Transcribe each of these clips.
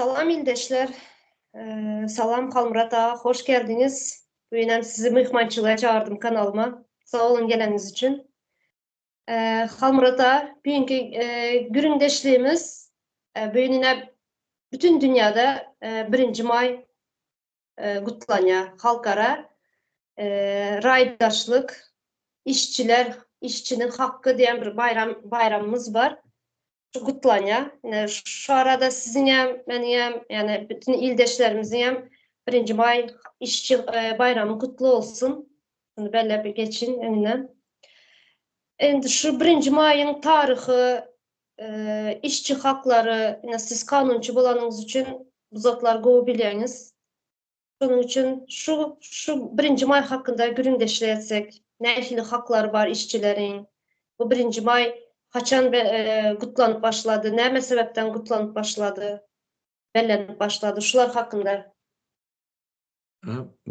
Salam ildeşler. Ee, salam Halmyrat aga, hoş geldiňiz. Bu ýenem sizi myhmançylyga çağırdım kanalyma. Sag olun geleniňiz üçin. Ee, Halmyrat aga, bugünkü e, gürüňdeşligimiz e, bu ýene bütün dünýäde e, 1-nji maý gutlanýar. Halkara raýdaşlyk, işçiler, işçiniň hakky diýen bir baýram, baýramymyz bar. Şu gutlanýar. Ine, şu arada siziň hem, meniň hem, ýani bütin ildeşlerimiziň hem birinji maý işçi baýramy gutly bolsun. Muny belläp geçiň öňünden. Indi şu birinji maýyň taryhy Işçi haklary, ine siz kanunçy bolanyňyz üçin bu zatlary gowy bilýäňiz. Şonuň üçin şu şu birinji maý hakynda gürrüňdeşlik etsek, nähili haklary bar işçileriň? Bu birinji maý haçan gutlanyp başlady, näme sebäpden gutlanyp başlady, bellenip başlady? Şular hakynda.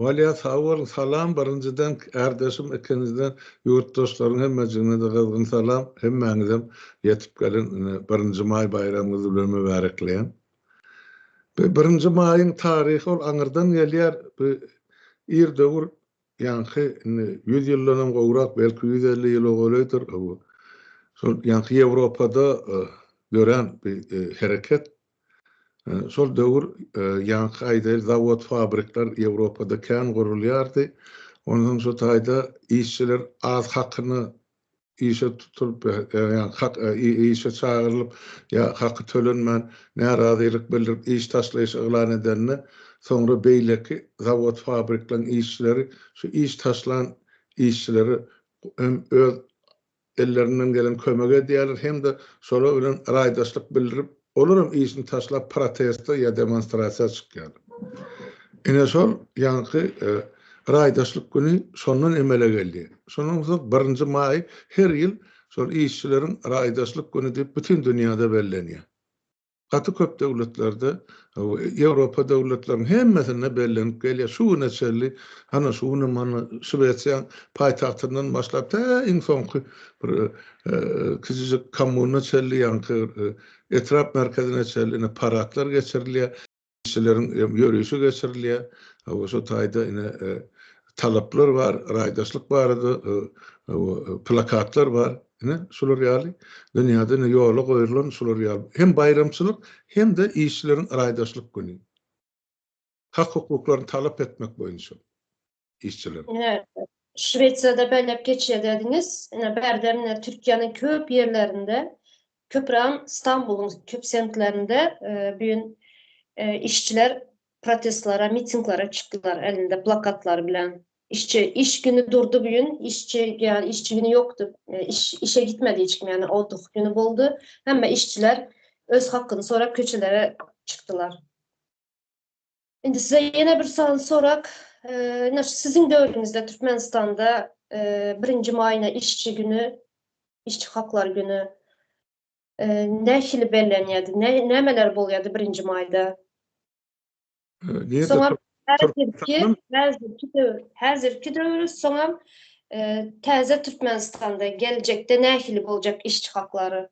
Walýa sag boluň salam birinjiden kärdeşim ikinjiden ýurtdaşlaryň hemmejiginede gyzgyn salam hemmäňizem ýetip gelen ine birinji maý baýramyňyz bilen mübärekleýän. Bu birinji maýyň taryhy ol aňyrdan gelýär bu ir döwür ýaňky indi ýüz ýyldanam gowrak belki ýüz elli ýyl owalydyr bu şol ýaňky ýewropada dörän bir hereket Şol döwür ýaňky aýdaýyl zawod-fabrikler Ýewropada kän gurulýardy. Onsoň şu taýda işçiler az hakyna işe tutulyp, ýagny işe çagyrylyp ýa haky tölenmän närazylyk bildirip iş taşlaýyş yglan edende, soňra beýleki zawod-fabrikleriň işçileri şu iş taşlan işçileri hem öz ellerinden gelen kömegi edýärler hem-de şolar bilen raýdaşlyk bildirip, olaram işini taşlap proteste ýa demonstrasiýa çykýarlar. Ine şol ýaňky raýdaşlyk güni şondan emele geldi. Şondan soň birinji maý her ýyl şol işçileriň raýdaşlyk güni diýip bütin dünýäde bellenýär. gaty köp döwletlerde, Ýewropa döwletleriniň hemmesinde bellenip gelýär. Şu güne çenli, hany şu günem hany Şwesiýaň paýtagtyndan başlap, tä iň soňky bir kiçijik kommuna çenli, ýaňky etrap merkezine çenli paradlar geçirilýär. Kişileriň hem ýörişi geçirilýär. Hawa, şu taýda ine talaplar bar, raýdaşlyk barada plakatlar bar. Ine, şular ýaly dünýäde ine ýola goýulan şular ýaly hem baýramçylyk, hem-de işçileriň raýdaşlyk güni. Hak-hukuklaryny talap etmek boýunça. işçiler. Ine, Şwesiýada belläp geçýär dädiňiz. Ine, bärde ine Türkiýäniň köp ýerlerinde, köpüräm Stambulyň köp semtlerinde e, bu gün e, işçiler protestlere, mitinglere çykdylar elinde plakatlar bilen. Işçi iş güni durdy bu gün, işçi ýa işçi güni ýokdy. E, iş işe gitmedi hiç kim, ýani otuh güni boldy. Hemme işçiler öz hakyny sorap köçelere çykdylar. Indi size ýene bir sany sorak. Ine şu siziň döwrüňizde Türkmenistanda birinji maýyna işçi güni, işçi haklary güni nähili bellenýärdi? Nämeler bolýardy birinji maýda? Soňam häzirki, häzirki döwür, häzirki döwür, soňam täze Türkmenistanda geljekde nähili boljak işçi haklary?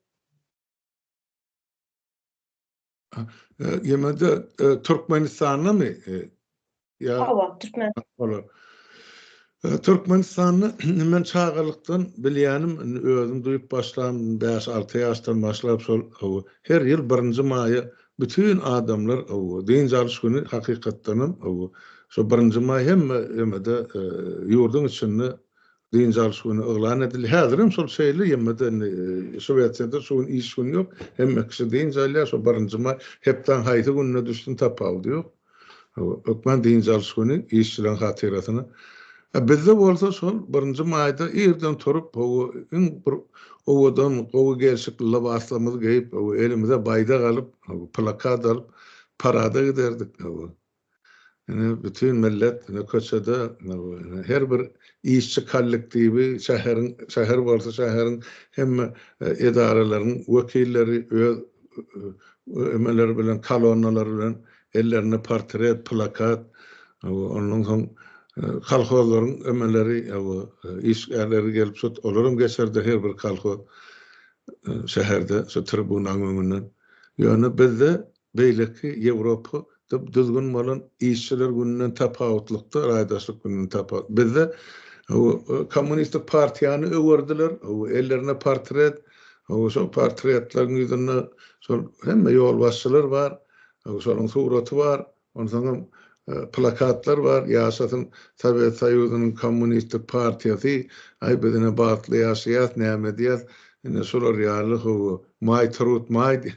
Ýemede Türkmenistandamy? Hawa, Türkmenistanda. Türkmenistanda men çagalykdan bilýänim, özüm duýup başlan, bäş-alty ýaşdan başlap şol her ýyl birinji maýa bütin adamlar dynç alyş güni hakykatdanam şo birinji maý hemme ýemede ýurduň içinde dynç alyş güni yglan edildi. Häzirem şol şeýle, ýöne-de indi Şwesiýada şu gün iş güni ýok. Hemme kişi dynç alýar. Şo birinji maý hepdäň haýsy gününe düşsün, tapawudy ýok. Hökman dynç alyş güni işçileriň hatyrasyna. A bizde bolsa şol birinji maýda irden turup, hawa, iň bir owadan, gowy gelşikli lybaslarymyzy geýip, hawa, elimize baýdak alyp, hawa, plakat alyp, parada giderdik, hawa. Ine bütin millet ine köçede ine her bir işçi kollektiwi şäheriň şäher bolsa şäheriň hemme edaralaryň wekilleri öz emeleri bilen kolonnalary bilen ellerinde portret plakat ondan soň kolhozlaryň emeleri işgärleri gelip şu olaram geçerde her bir kolhoz şäherde şu tribunaň öňünden ýöne bizde Beýleki Ýewropa da düzgün bolan işçiler gününden tapawutlykda, raýdaşlyk gününden tapawutly. Bizde kommunistik partiýany öwerdiler, ellerinde portret, şol portretleriň ýüzünde şol hemme ýolbaşçylar bar, şolaryň suraty bar, onsoňam plakatlar bar, Ýaşasyn Sowet Soýuzynyň Kommunistik partiýasy, Aý biz ine bagtly ýaşaýas, näme edýäs, ine şular ýaly hawa, Maý trud maý,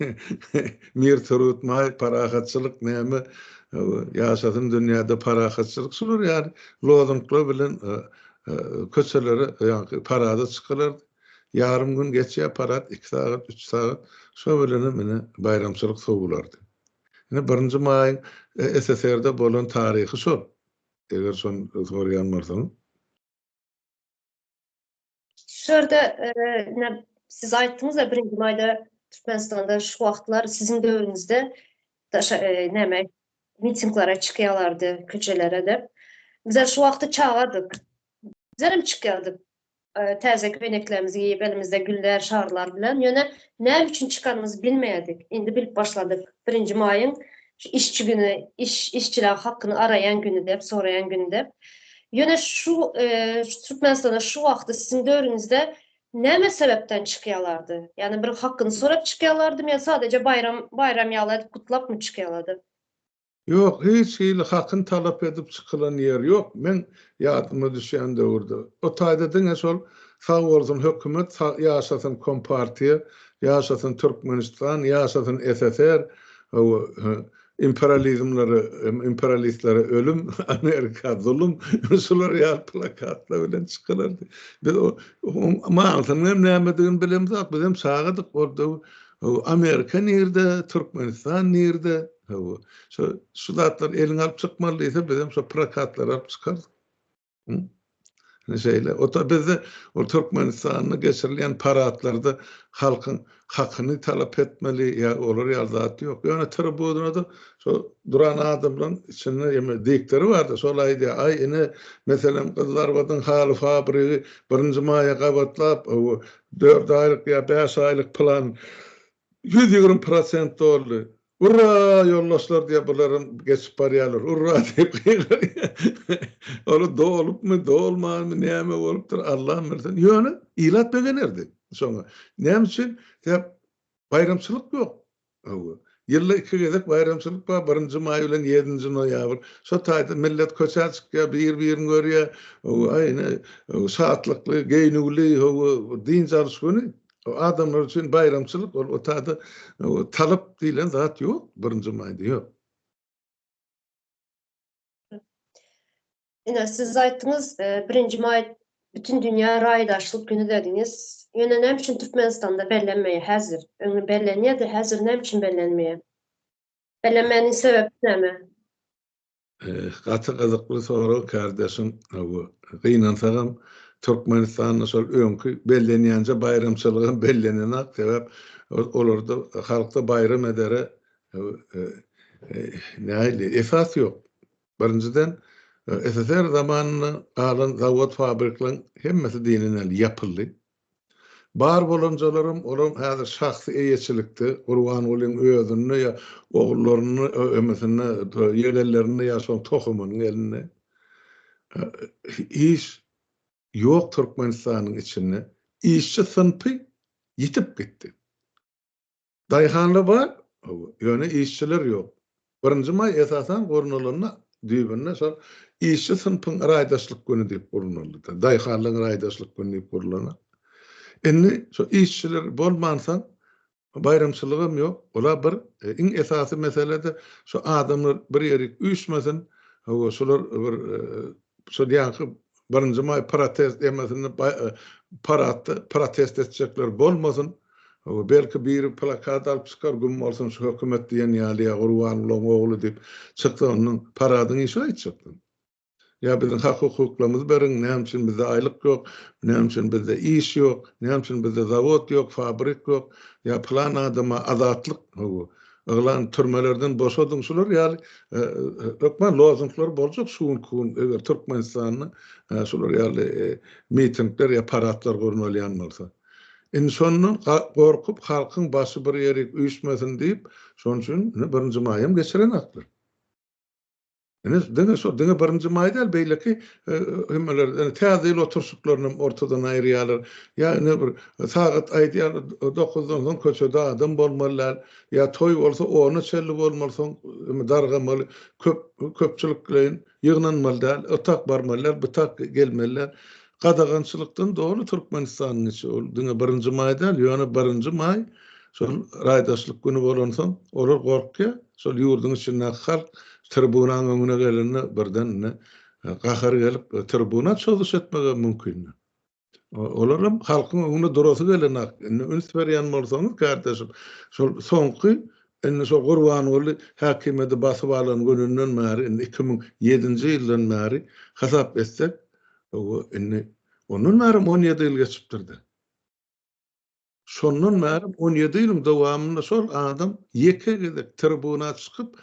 Mir trud maý, Parahatçylyk näme, hawa, Ýaşasyn dünýäde parahatçylyk şular ýaly lozunglar bilen köçelere ýaňky parada çykylardy. Ýarym gün geçýär parat, iki sagat, üç sagat, şo bilenem ine baýramçylyk sowulardy. Ine, birinji maýyň SSR-de bolan taryhy şol. Eger şony soraýan bolsaň. Şu ýerde, ine, siz aýtdyňyz-da, birinji maýda Türkmenistanda şu wagtlar siziň döwrüňizde daşa, näme, mitinglara çykýarlardy, köçelere-de. Bizem şu wagty çagadyk. Bizem çykýardyk. Täze köýneklerimizi geýip, elimizde güller, şarlar bilen, ýöne näme üçin çykanymyzy bilmeýärdik. Indi bilip başladyk. Birinji maýyň şu işçi güni, iş, işçileriň hakyny araýan güni dep, soraýan güni dep. Ýöne şu Türkmenistana şu wagty siziň döwrüňizde näme sebäpden çykýalardy? Ýagny bir hakyny sorap çykýalardymy ýa sadaja baýram, baýram ýaly edip gutlapmy çykýalardy? Ýok, hiç hili hakyn talap edip çykylan ýer ýok, meň ýadyma düşýän döwürde. O taýda diňe şol Sag bolsun hökümet, ýaşasyn kompartiýa, ýaşasyn Türkmenistan, ýaşasyn SSR, hawa, imperializmlere, imperialistlere ölüm, Amerika zulum, şular ýaly plakatlar bilen çykylardy. Biz o manysynyň hem nämedigini bilemzok, bizem çagadyk, ol döwür Hawa, Amerika nirde, Türkmenistan nirde? Hawa, şo şu zatlary eliňe alyp çykmaly diýse, bizem şo prokatlary alyp çykardyk. Hum. Ine şeýle. Ota bizde ol Türkmenistanda geçirilýän paradlarda halkyň hakyny talap etmeli ýa olar ýaly zat ýok. Ýöne tribunada şo duran adamlaryň içinde ýeme diktori bardy. Şol aýdýar, aý ine, meselem, Gyzlarbadyň haly fabrigi birinji maýa gabatlap, hawa, Dört aýlyk ýa bäş aýlyk plan ýüz ýigrimi prosent doldy. Urra, ýoldaşlar diýýär, bularam geçip barýarlar. Urra diýip gygyrýar. Olar dolupmy, dolmanmy, näme bolupdyr, Allam bilsin. Ýöne ilat begenerdi şoňa. Näme üçin? Sebäp baýramçylyk ýok. Hawa. Ýylda iki gezek baýramçylyk bar, birinji maý bilen ýedinji noýabr. Şo taýda millet köçä çykýar, bir-birini görýär. Hawa, ine, şatlykly, geýnüwli, hawa, dynç alyş güni. Adamlar üçin baýramçylyk ol. O taýda talyp diýlen zat ýok birinji maýda, ýok. Ine, siz aýtdyňyz, e, birinji maý bütün dünýä raýdaşlyk güni dediňiz. Ýöne näme üçin Türkmenistanda bellenmeýär häzir? Öňi bellenýärdi, häzir näme üçin bellenmeýär? Bellenmäniň sebäbi näme? Gaty gyzykly sorag kardeşim. Bu gynansagam Türkmenistanda şol öňki bellenýänçe baýramçylygam bellenenok. Sebäp olarda halkda baýram edere e, e, nähili esas ýok. Birinjiden, SSR zamanynda galan zawod-fabrikleriň hemmesi diýlen ýaly ýapyldy. Bar bolanjalaram, olam häzir şahsy eýeçilikde, Gurbangulyň özünde ýa ogullarynyň emesinde, ýegenlerinde ýa şoň tohumynyň elinde. Iş ýok Türkmenistanyň içinde. Işçi synpy ýitip gitdi. Daýhanlar bar, ýöne işçiler ýok. Birinji maý esasan gurnalanda düýbünde şol işçi synpyň raýdaşlyk güni diýip gurnaldy-da, daýhanlaryň raýdaşlyk güni diýip gurlana. Indi şo işçiler bolmansoň baýramçylygam ýok. Olar bir iň esasy mesele-de şo adamlar bir ýerik üýşmesin, hawa şular bir Şudianky birinji maý protest emesini paratda protest etjekler bolmasyn belki biri plakat alyp çykar güm bolsun şu hökümet diýen ýaly ýa gurbangulyň ogly diýip çyksa ondan paradyň işi aýtjakdym ýa biziň hak hukuklarymyzy beriň näme üçin bizde aýlyk ýok näme üçin bizde iş ýok näme üçin bizde zawod ýok fabrik ýok ýa plan adama azatlyk howa Yglan, Türmelerden boşadyň şular ýaly hökman lozunglar boljak şu günki gün eger Türkmenistanda şular ýaly mitingler ýa paradlar gurnalýan bolsa. Indi şondan gorkup halkyň başy bir ýerik üýşmesin diýip şonuň üçin birinji maýam geçirenoklar. Ine, diňe şo, diňe birinji maý däl, beýleki hümmeler, ine, Täze ýyl oturyşyklaryny hem ortadan aýyrýarlar. Ýa ine bir sagat aýdýarlar, dokuzdan soň köçede adam bolmaly däl. Ýa toý bolsa, ona çenli bolmaly, soň dargamaly, köp, köpçülikleýin ýygnanmaly däl, o tak barmaly däl, bu tak gelmeli däl. Gadagançylykdan doly Türkmenistan niçe ol diňe birinji maý däl ýöne birinji maý şol raýdaşlyk güni bolansoň olar gorkýa şol ýurduň içindäki halk tribunaň öňüne gelende birden indi gahary gelip tribuna çozuş etmegem mümkin olaram halkyň öňünde durasy gelenok indi üns berýän bolsaňyz kardeşim şol soňky indi şol gurbanguly häkimiýeti basyp alan gününden bäri indi iki müň ýedinji ýyldan bäri hasap etsek Hawa, indi ondan bärim on ýedi ýyl geçipdir-de. Şondan bärim on ýedi ýylyň dowamynda şol adam ýeke gezek tribuna çykyp,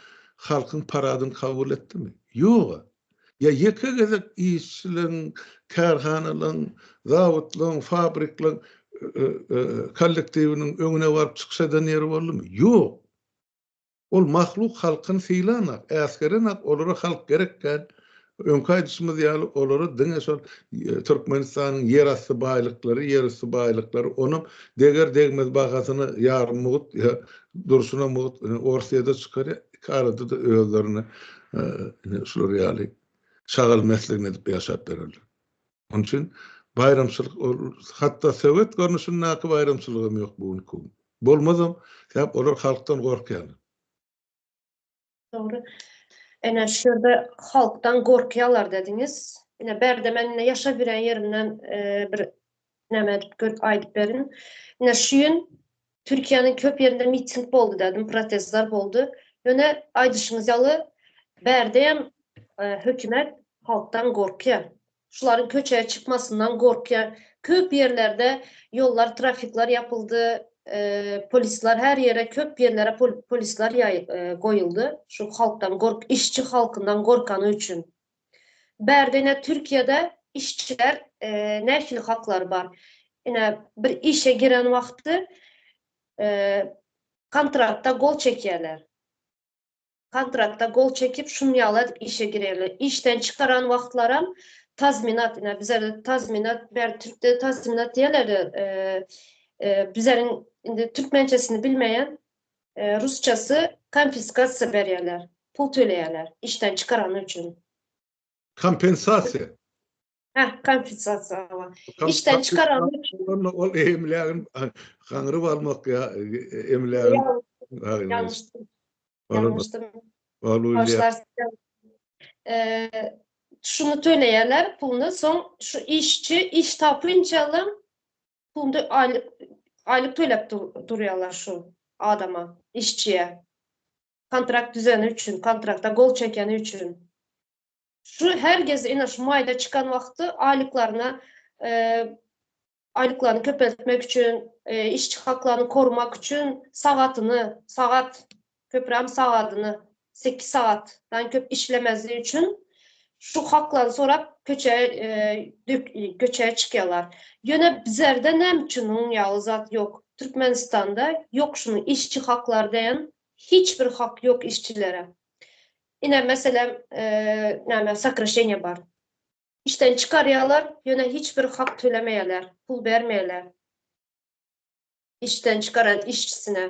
halkyň paradyny kabul etdimi? Ýog-a. Ýa ýeke gezek işçileriň, kärhanalaryň, zawodlaryň, fabrikleriň kollektiwiniň öňüne baryp çykyş eden ýeri boldumy? Ýok. Ol mahluk halkyny sylanok, äsgerenok, olara halk gerek däl. Öňki aýdyşymyz ýaly, olara diňe şol Türkmenistanyň ýerasty baýlyklary, ýerüsti baýlyklary, onam deger-degmez bahasyna ýarym mugt, durşuna mugt, Orsýede çykarýar, iki arada-da özlerine şular ýaly şagal-mesligini edip ýaşap bererler. Onuň üçin baýramçylyk ol hatda sowet görnüşindäki baýramçylygam ýok bu günki gün. Bolmazam, sebäp olar halkdan gorkýarlar. Dogry. Ene şu ýerde halkdan gorkýarlar dediňiz. Ine bärde men indi ýaşap ýören ýerimden bir näme edip görüp aýdyp berin. Ine şu ýyn Türkiýäniň köp ýerinde miting boldy dädim, protestler boldy. Ýöne aýdyşyňyz ýaly, bärdeýem hökümet halkdan gorkýar. Şularyň köçä çykmasyndan gorkýar. Köp ýerlerde ýollar, trafikler ýapyldy, polisler her ýere, köp ýerlere polisler goýuldy. Şu halkdan gork, işçi halkyndan gorkany üçin. Bärde ine Türkiýede işçiler nähili haklary bar? Ine bir işe giren wagty kontratda gol çekýärler. Kontratda gol çekip şun ýaly edip işe girerler. Işden çykaran wagtlaram tazminat ine bizerde tazminat bärde türkde tazminat diýerler. Bizleriň indi türkmençesini bilmeýän Rusçasy konfiskasiýa berýärler, pul töleýärler işden çykarany üçin. Kompensasiýa. Hä, kompensasiýa hawa. Işden çykarany üçin. Onda ol emlägini gaňryp almak ýa emlägini. Ýalňyşdym. Ýalňyşdym. Bagşlarsyn. Şuny töleýärler puluny, soň şu işçi iş tapynça alyň, Onda aýlyk aýlyk töläp durýarlar şu adama, işçiye. Kontrakt düzeni üçin, kontrakta gol çekeni üçin. Şu her gez ine şu maýda çykan wagty aýlyklaryna e, aýlyklaryny köpeltmek üçin, e, işçi haklaryny korumak üçin sagatyny, sagat Köpüram sagadyna sekiz sagatdan köp işlemezligi üçin şu haklaryny sorap köçä göçä çykýarlar. Ýöne bizerde näme üçin onuň ýaly zat ýok? Türkmenistanda ýok şunuň işçi haklary diýen hiç bir hak ýok işçilere. Ine meselem näme sokraşeniýa bar. Işden çykarýarlar ýöne hiç bir hak tölemeýärler, pul bermeýärler işden çykaran işçisine.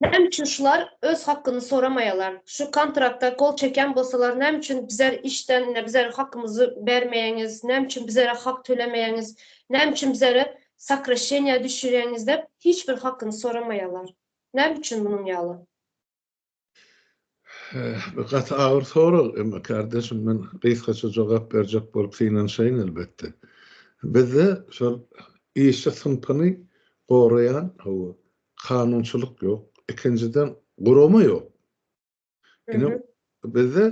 Näme üçin şular öz hakkyny soramaýalar? Şu kontrakta gol çekýän bolsalar näme üçin bizar işden ine bizara hakkymyzy bermeýäňiz, näme üçin bizara hak tölemeýäňiz, näme üçin bizara sokraşeniýa düşürýäňiz dep hiç bir hakkyny soramaýalar. Näme üçin munuň ýaly? Bu gaty agyr sorag, emma kardeşim men gysgaça jogap berjek bolup synanşaýyn elbetde. Bizde şol işçi synpyny goraýan, hawa, Kanunçylyk ýok. Ikinjiden gurama ýok. Ine bizde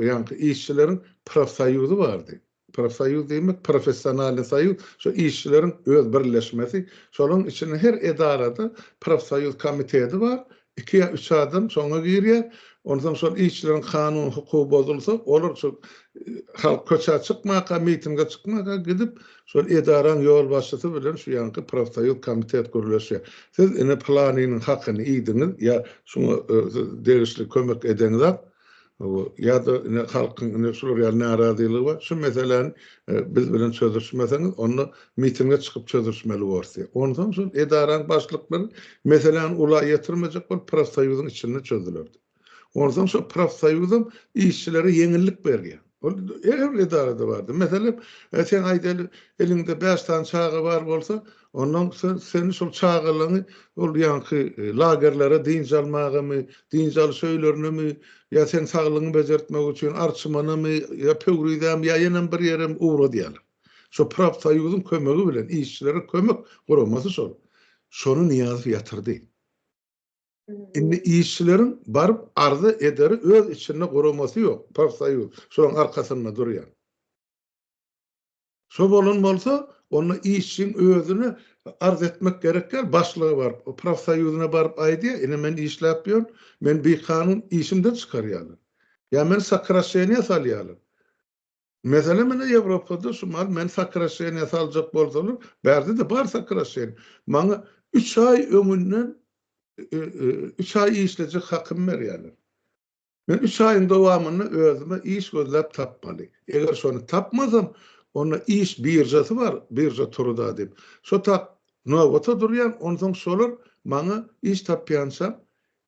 ýaňky işçileriň profsoýuzy bardy. Profsoýuz diýmek professionalnyý soýuz, şo işçileriň öz birleşmesi, şolaryň içinde her edarada profsoýuz komiteti bar, Iki ýa üç adam şoňa girýär. Onsoň şol işçileriň kanuny hukugy bozulsa, olar şu halk köçä çykmaka, mitinge çykmaka gidip, şol edaraň ýolbaşçysy bilen şu ýanky profsoýuz komitet gürleşýär. Siz ine pylanynyň hakyny iýdiňiz ýa şuňa siz degişli kömek edeňzak, Ýa-da ine halkyň ine şular ýaly narazylygy bar. Şu meseläni biz bilen çözüşmeseňiz, onda mitinge çykyp çözüşmeli bors diýip. Onsoň şol edaraň başlyklary meseläni ula ýetirmejek bolup profsoýuzyň içinde çözülerdi. Onsoň şo profsoýuzam işçilere ýeňillik berýär. Ol her bir edarada bardy. Meselem, sen aýdaly, eliňde bäş sany çaga bar bolsa, Ondan seni şol çagalaňy ol ýaňky lagerlere dynç almagamy, dynç alyş öýlerinemi ýa seň saglygyňy bejertmek üçin Arçymanamy ýa Pöwrizämi ýa ýenem bir ýerem ugra diýýärler. Şo profsoýuzyň kömegi bilen işçilere kömek guramasy şol. Şony Nyýazow ýatyrdy. Indi işçileriň baryp arza ederi öz içinde guramasy ýok, profsoýuz şolaň arkasynda durýar. Şo bolan bolsa, onda işçiň özüne arz etmek gerek däl, başlyga baryp, profsoýuzyna baryp aýdýar, ine men işläp ýörün, meni bikanun işimden çykarýarlar. Ýa meni sokraşeniýa salýarlar. Meselem ine Ýewropada şu mahaly meni sokraşeniýa saljak bolsalar, bärde-de bar sokraşeniýa. Maňa üç aý öňünden üç aý işlejek hakym berýärler. Men üç aýyň dowamynda özüme iş gözläp tapmaly. Eger şony tapmasam, onda iş biržasy bar, birža turuda diýip, şo tak nobata durýan, onsoň şolar maňa iş tapýançam,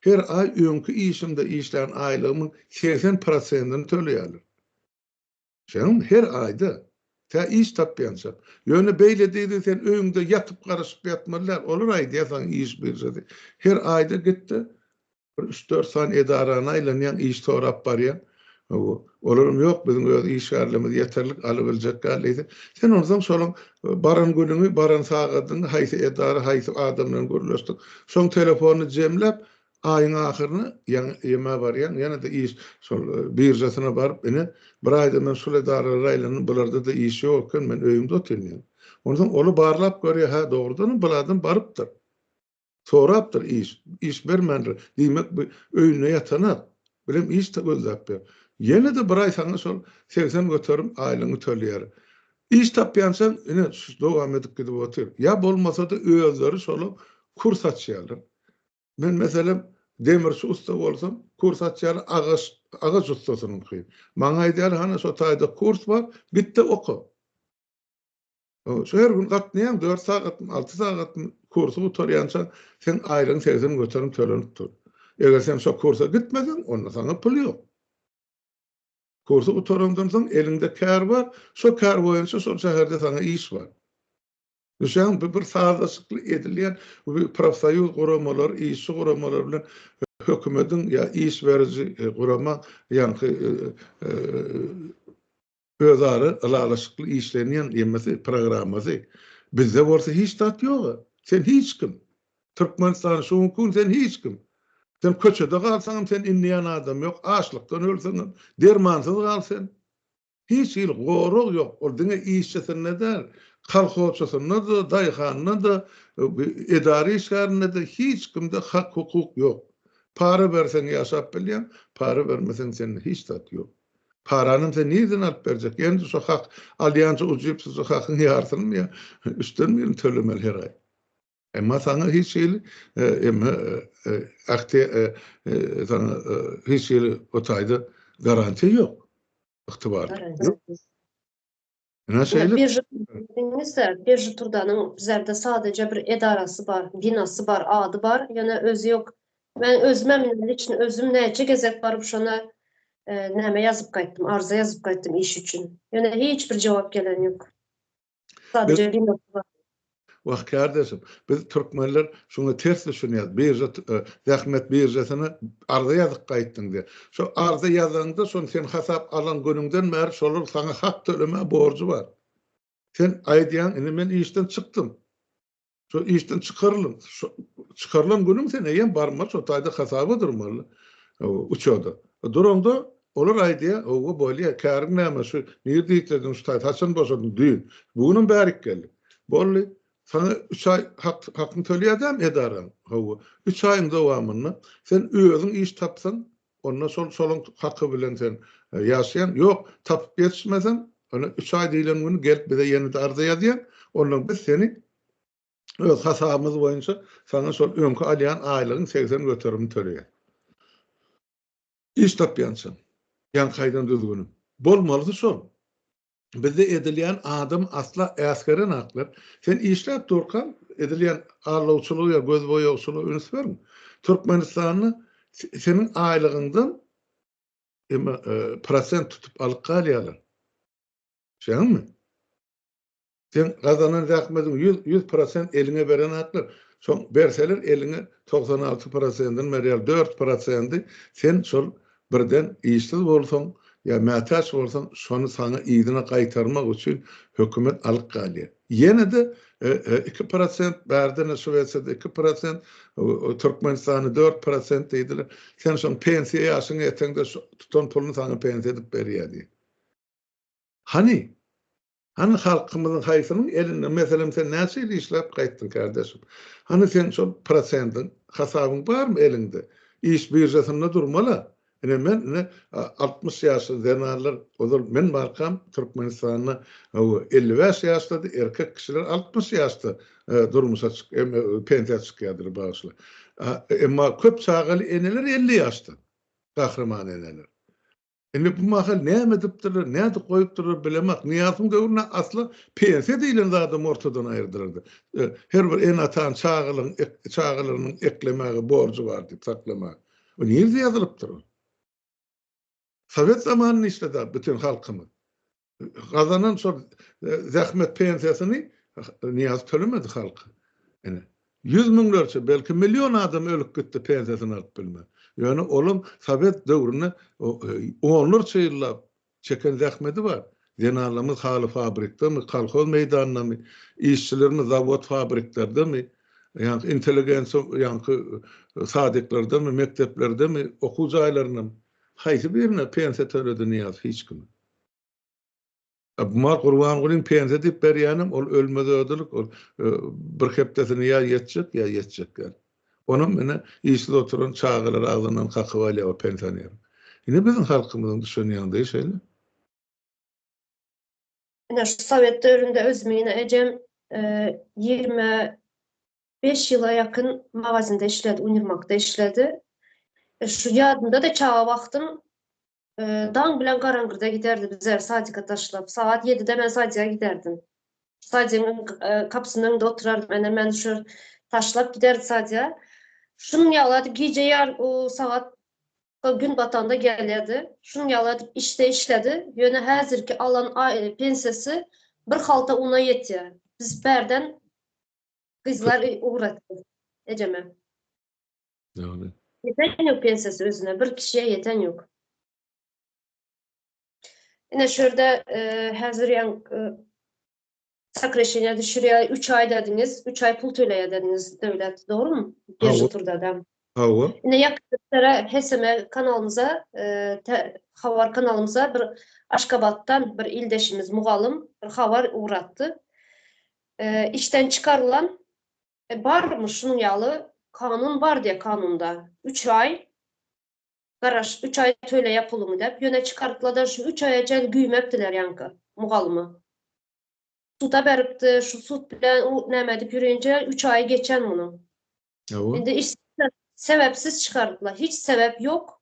her aý öňki işimde işlän aýlygymyň segsen prosentini töleýärler. Şeýle her aýda, tä iş tapýança. Ýöne beýle diýdi, sen öýüňde ýatyp garaşyp ýatmaly däl, olar aýdýar saňa iş biržasy. Her aýda git-de, bir üç-dört sany edarany aýlanýaň, iş sorap barýaň. Hawa, olaram ýok, biziň öz işgärlerimiz ýeterlik, alybiljek däl diýdi. Sen onsoň şolaň baran günüňi, baran sagadyňy, haýsy edara, haýsy adam bilen gürleşdiň, şoň telefonyny jemläp, Aýyň ahyryna ýeme barýaň, ýene-de iş şol biržasyna baryp, ine, bir aýdan men şul edaralara aýlandym, bularda-da iş ýok eken, men öýümde otyryn diýýän. Onsoň oly barlap görýär, hä, dogrudanam bir adam barypdyr. Sorapdyr iş, iş bermändir. Diýmek, bu öýünde ýatanak, birem iş gözläp ýör. Ýene-de bir aý saňa şol segsen göterim aýlygyňy tölýär. Iş tapýançaň, ine, dowam edip gidip otyr. Ýa bolmasa-da özleri şola kurs açýarlar. Men meselem demirçi ussa bolsam, kurs açýarlar agaç, agaç ussasynyňky. Maňa aýdýarlar, hany şo taýda kurs bar, git-de oka. Şu her gün gatnaýaň, dört sagatmy, alty sagatmy, kursy gutarýança seň aýlygyň segsen göterim tölenip dur. Eger sen şo kursa gitmeseň, onda saňa pul ýok. Kursy gutarandan soň eliňde kär bar, şo kär boýunça şol şäherde saňa iş bar. Bu şeýle bu bir sazlaşykly edilýän profsoýuz guramalary, işçi guramalary bilen hökümediň ýa iş beriji gurama ýaňky özara ylalaşykly işlenýän emesi programmasy. Bizde bolsa hiç zat ýok. Sen hiç kim. Türkmenistan şu günki gün sen hiç kim. Sen köçede galsaňam sen inleýän adam ýok. Açlykdan ölseňem, dermansyz gal sen. Hiç hili gorag ýok, ol diňe işçisinde däl, kolhozçysynda-da, daýhanynda-da, edara işgärinde-de, hiç kimde hak-hukuk ýok. Para berseň ýaşap bilýäň, para bermeseň sende hiç zat ýok. Paranam sen nireden alyp berjek? Ýene-de şo hak alýança ujypsyzja hakyň ýarysynymy ýa üçden birini tölemeli her aý. Emma saňa hiç hili emma akte saňa hiç hili o taýda garantiýa ýok. Ygtybar. Ýöne şeýle. Birji diňizde birji turdanyň bizlerde sadaja bir edarasy bar, binasy bar, ady bar, ýöne özi ýok. Men özüm hem näme üçin özüm näçe gezek baryp şona näme ýazyp gaýtdym, arza ýazyp gaýtdym iş üçin. Ýöne hiç bir jogap gelen ýok. Sadece diňe bu. Wah kardeşim, biz türkmenler şuňa ters düşünýäs. Birža e, zähmet biržasyna arza ýazyp gaýtdyň diýip. Şo arza ýazanda, şony sen hasap alan günüňden bäri şolar saňa hak tölemä borjy bar. Sen aýdýaň, indi men işden çykdym. Şo işden çykarylyň. Çykarylan günüň sen eýýäm barmaly, şo taýda hasaba durmaly. Uçada. Duranda olar aýdýar, "Owa, bolýar, käriň näme şu? Nirde işlediň şu taýda? Haçan boşadyň? Düýn. Bu gün hem bärik geldik. Boldy. Saňa üç aý hak hakyňy töleýädem edaraň. Hawa, üç aýyň dowamynda sen özüň iş tapsaň, Onda şol şoluň haky bilen sen ýaşaýaň. Ýok, tapyp ýetişmeseň, ony üç aý diýlen güni gelip bize ýene-de arza ýazýaň. Ondan biz seni öz hasabymyz boýunça saňa şol öňki alýan aýlygyň segsen göterimini töleýäs. Iş tapýançam, ýaňkaýdan düzgünim. Bolmalysy şol. Bizde edilýän adam asla äsgeren haklar. Sen işläp durkaň edilýän allawçylygy ýa göz boýagçylygy üns berme. Türkmenistanda seniň aýlygyňdan emma e, prosent tutup alyp galýarlar. Şeňmi? Sen gazanan zähmetiň 100 100% eliňe beren haklar. Şoň berseler eliňe 96%-ni berýär, 4%-ni sen şol Birden işsiz bolsaň ýa mätäç bolsaň, şony saňa yzyna gaýtarmak üçin hökümet alyp galýar. Ýene-de iki prosent, bärde-ne Şwesiýada iki prosent, Türkmenistanda dört prosent diýdiler. Sen şoň pensiýa ýaşyňa ýeteňde şu tutan puluny saňa pensiýa edip berýär diýip. Hany, Hany halkymyzyň haýsynyň elinde meselem sen näçe ýyl işläp gaýtdyň kärdeşim? Hany sen şol prosendiň hasabyň barmy eliňde? Iş biržasynda durmala. Ine men ine altmyş ýaşly zenanlar ozal men barkam Türkmenistanda elli bäş ýaşdady erkek kişiler altmyş ýaşda durmuşa pensiýa çykýadylar bagyşla. Emma köp çagaly eneler elli ýaşda. Gahryman eneler. Indi bu mahal näme edipdirler, nädip goýupdyrlar bilemok. Nyýasyň döwründe asla pensiýa diýlen zadam ortadan aýyrdylardy. Her bir ene-atanyň çagalygyň çagalarynyň eklemäge borjy bar diýip saklamaga. Bu nirde ýazylypdyr? Sowet zamanynda işledi-ä bütin halkymyz. gazanan şol zähmet pensiýasyny Niýaz tölemedi halka. Ine, ýüz müňlerçe, belki million adam ölüp gitdi pensiýasyny alyp bilmän. Ýöne olam sowet döwründe onlarça ýyllap çeken zähmeti bar. Zenanlarymyz haly fabrikdemi, kolhoz meýdandamy, işçilerimiz zawod-fabriklerdemi, ýa-da intelligensiýa, ýa-da sadyklerdami, mekdeplerdemi, okuw jaýlarynda haýsy birine pensiýa töledi Niýaz? Hiç kim. Gumar Gurbangulyň pensiýa diýip berýänem ol ölmez ödelik ol bir hepdesini ýa ýetjek ýa ýetjek ýaly. Onam ine işsiz oturan çagalary agzyndan kakyp alýar o pensioneriň. Ine biziň halkymyzyň düşen ýagdaýy şeýle. Ine şu sowet döwründe özümi ine ejem ýigrimi beş ýyla ýakyn magazinde işledi, uniwmakda işledi. Şu ýadymda-da çaga wagtym Daň bilen garaňgyrda giderdi bizleri sadika taşlap. Sagat ýedide men sadika giderdim. Sadigiň kapysynyň öňünde oturardym. Ene meni şu taşlap giderdi sadika. Şunuň ýaly edip gije ýar o sagat gün batanda gelýärdi. Şunuň ýaly edip işde işledi. Ýöne häzirki alan pensiýasy bir halta una ýetýär. Biz bärden gyzlar ugratdy ejeme. Ýagny. Ýeten ýok pensiýasy özüne, bir kişiýe ýeten ýok. Ine şu ýerde e, häzir ýaň e, sokresheniýa düşürýär, 3 aý dediňiz, 3 aý pul töleýär dediňiz döwlet, dogrumy? Birji turda adam. Hawa. Ine ýakynlara HSM kanalymyza, e, habar kanalymyza bir Aşgabatdan bir ildeşimiz mugallym bir habar ugratdy. E, işden çykarylan E barmyş şunuň ýaly kanun bar diýe kanunda üç aý garaş üç aý töleýä puluňy dep ýöne çykartladan şu üç aýa çen güýmepdiler ýaňky mugallyma suda beripdi şu sud bilen u näme edip ýürinje üç aýy geçen munuň Hawa. indi iş sebepsiz çykartla hiç sebep ýok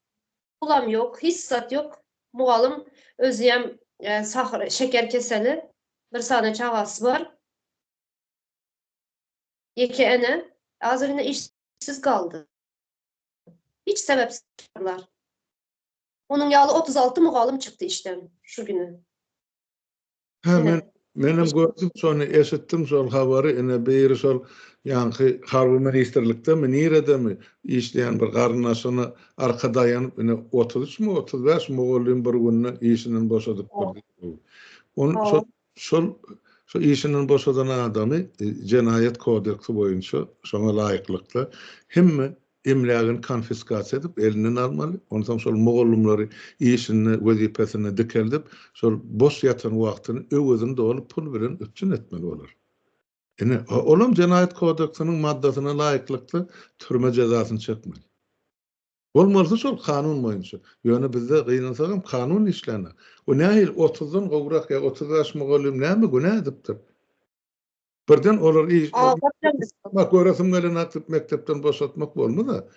pulam ýok hiç zat ýok mugallym özüem e, sahyr şeker keseli bir sany çagasy bar Ýeke ene azgynly işsiz galdy. Hiç sebepsizler. Onuň ýaly otuz alty mugallym çykdy işden şu güni. Hä, men menem gördüm şony, eşitdim şol habary. Ine, biri şol ýaňky harby ministrliktemi, niredemi işleýän bir garyndaşyna arka daýanyp, ine, otuz üçmi, otuz bäş mugallym bir günde işinden boşadypdyr diýip. Ol şol Şol şu işinden boşadan adamy Jenaýat kodeksi boýunça şoňa laýyklykda hemme emlägini konfiskasiýa edip elinden almaly, onsoň şol mugallymlary işinde, wezipesinde dikeldip, şol boş ýatan wagtyny öwezini doly pul bilen üpjün etmeli bolar. Ine, olam Jenaýat kodeksiniň maddasyna laýyklykda türme jezasyny çekmeli. Bolmalysy şol kanun boýunça. Ýöne bizde gynansagam kanun işlänok. Bu nähili otuzdan gowrak ýa otuz bäş mugallym näme günä edipdir? Birden olar iş Bak göresim gelenok diýip mekdepden boşatmak bolmaz-a.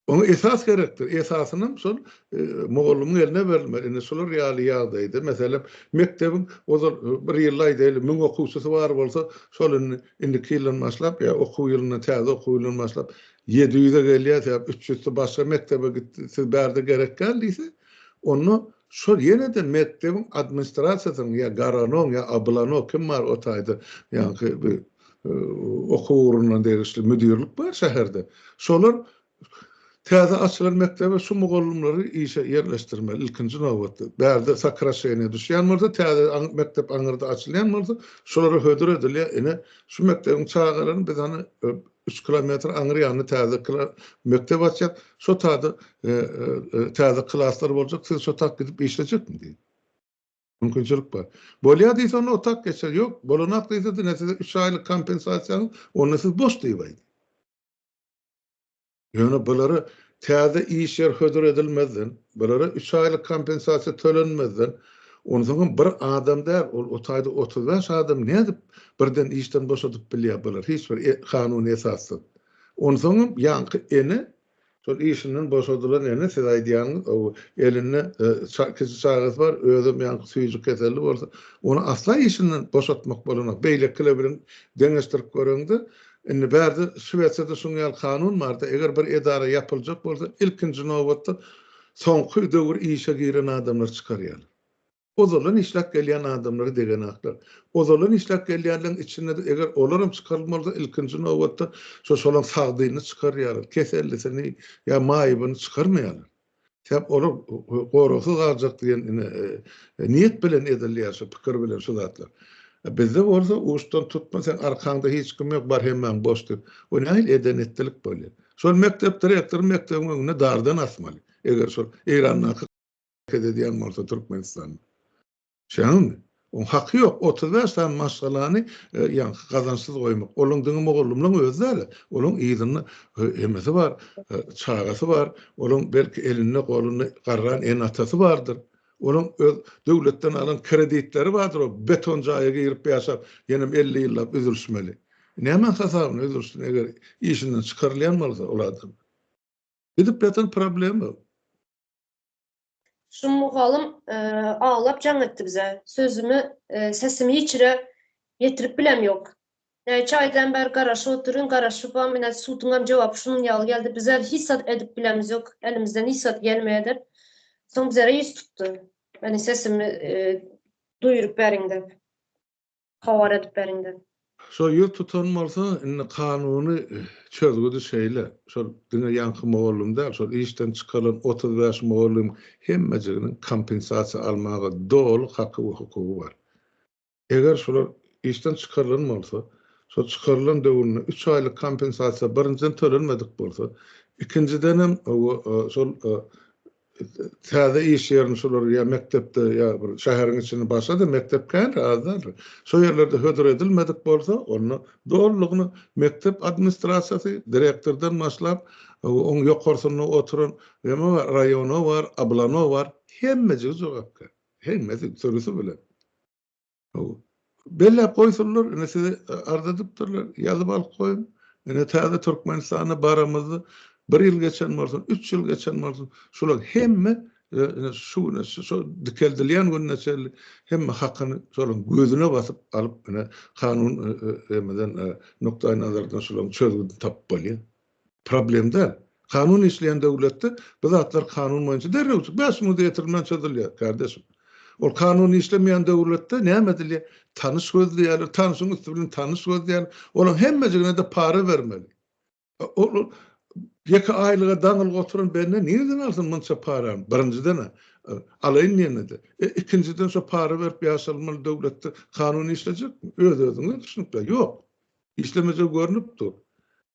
Oňa esas gerekdir. Esasynam şol e, mugallymyň eline berilmeli. Indi şular ýaly ýagdaýda meselem mekdebiň ozal e, bir ýylda aýdaýly 1000 okuwçysy bar bolsa, şol indi indiki ýyldan başlap ýa okuw ýylyndan täze okuw ýylyndan başlap Ýedi ýüze gelýär sebäp üç ýüzsi başga mekdebe gitdi, siz bärde gerek däl diýse, onda şol ýene-de mekdebiň administrasiýasynyň ýa garanoň ýa abylanok kim bar o taýda ýaňky bir okuw ugruna degişli müdirlik bar şäherde. Şolar täze açylan mekdebe şu mugallymlary işe ýerleşdirmeli ilkinji nobatda. Bärde sokraşeniýa düşýän bolsa, täze mekdep aňyrda açylýan bolsa, şolara hödür edilýär, ine, şu mekdebiň çagalaryny biz hany Üç kilometr aňry ýanynda täze mekdep açýar. Şo taýda täze klaslar boljak. Siz şo tak gidip işlejekmi diýdi. Mümkinçilik bar. Bolýar diýse, onda otak geçer. Ýok, bolanak diýse, diňe size üç aýlyk kompensasiýa, onda siz boş diýip aýdy. Ýöne bulary Täze iş ýer hödür edilmezden, olara üç aýlyk kompensasiýa tölenmezden, onsoňam bir adam däl, ol o taýda otuz bäş adamy nädip birden işden boşadyp bilýär bular, hiç bir kanuny esassyz? Onsoňam ýaňky ene, şol işinden boşadylan ene, siz aýdýaňyz, o elinde kiçi çagasy bar, özem ýaňky süýji keselli bolsa, ony asla işinden boşatmak bolanok. Beýlekile bilen deňeşdirip göreňde, Indi bärde Şwesiýada şunuň ýaly kanun barda, eger bir edara ýapyljak bolsa, ilkinji nobatda soňky döwür işe giren adamlary çykarýarlar. Ozaldan işläp gelýän adamlary degenaklar. Ozaldan işläp gelýänleriň içinde-de eger olaram çykarylma bolsa, ilkinji nobatda şo şolaň sagdynyny çykarýarlar, kesellisini ýa maýybyny çykarmaýarlar. Sebäp olar goragsyz galjak diýen ine niýet bilen edilýär şu pikir bilen şu zatlar. Bizde bolsa uçdan tutma sen arkaňda hiç kim ýok bar hemmäň boş diýip. Bu nähili eden etdilik bolýar. Şol mekdep direktory mekdebiň öňüne dardan asmaly. Eger şol Eýrandaky edýän bolsa Türkmenistanda. Şeýleňmi? Oň haky ýok, otuz bäş sany maşgalany ýaňky gazançsyz goýmak. Olaň diňe mugallymlaň özi däl-ä, olaň yzynda emesi bar, çagasy bar, olaň belki elinde, golunda garran ene-atasy bardyr. Olaň öz döwletden alan kreditleri bardyr, ol beton jaýa girip ýaşap, ýenem elli ýyllap üzülişmeli. Nämäň hasabyna üzülişsin, eger işinden çykarylýan bolsa ol adam? Gidip ýatan problema. Şu mugallym aglap jaň etdi bize. Sözümi, sesimi hiç ýere ýetirip bilem ýok. Näçe aýdan bäri garaşyp otyryn, garaşybam, ine, suduňam jogaby şunuň ýaly geldi. Bizler hiç zat edip bilemz ýok, elimizden hiç zat gelmeýär diýip, soň bizlere ýüz tutdy. Meniň sesimi duýuryp beriň diýip. Habar edip beriňda. Şo ýüz tutan bolsa indi kanuny çözgüdi şeýle, şol diňe ýaňky mugallym däl, şol işden çykarylan otuz bäş mugallym hemmejiginiň kompensasiýa almaga doly haky we hukugy bar. Eger şular işden çykarylan bolsa, şo çykarylan döwründe üç aýlyk kompensasiýa birinjiden tölenmedik bolsa, ikinjidenem we şol Täze iş ýerini şolar ýa mekdepde ýa bir şäheriň içinde başga-da mekdep kändir, az däldir. Şo ýerlerde hödür edilmedik bolsa, onda dolulygyna mekdep administrasiýasy, direktordan başlap, oň ýokarsynda oturan neme bar, raýona bar, ablana bar, hemmejigi jogapkär. Hemmesi sürüsi bilen. Belläp goýsunlar, indi size arz edipdirler, ýazyp alyp goýuň. Indi täze Türkmenistana baramyzda bir ýyl geçen bolsun, üç ýyl geçen bolsun, şular hemme şu güne, şu dikeldilýän gününe çenli hemme hakyny şolaryň gözüne basyp alyp, ine, kanun nukdaýnazardan şolaryň çözgüdini tapyp bolýar. Problem däl. Kanun işleýän döwletde bu zatlar kanun boýunça derrew bäş müňde ýetirilmän çözülýär, kardeşim. Ol kanun işlemeýän döwletde näme edilýär? Tanyş gözleýärler, tanyşyň üsti bilen tanyş gözleýärler. Olaň hemmejigine-de para bermeli. Ol ýeke aýlyga daňylgy oturan bende nireden alsyn munça parany? Birinjiden-ä, alaýyn diýende-de. E, ikinjiden şo para berip ýaşalmaly döwletde kanun işlejekmi? Öz-özüňize düşünip ber. Ýok. Işlemejegi görnüp dur.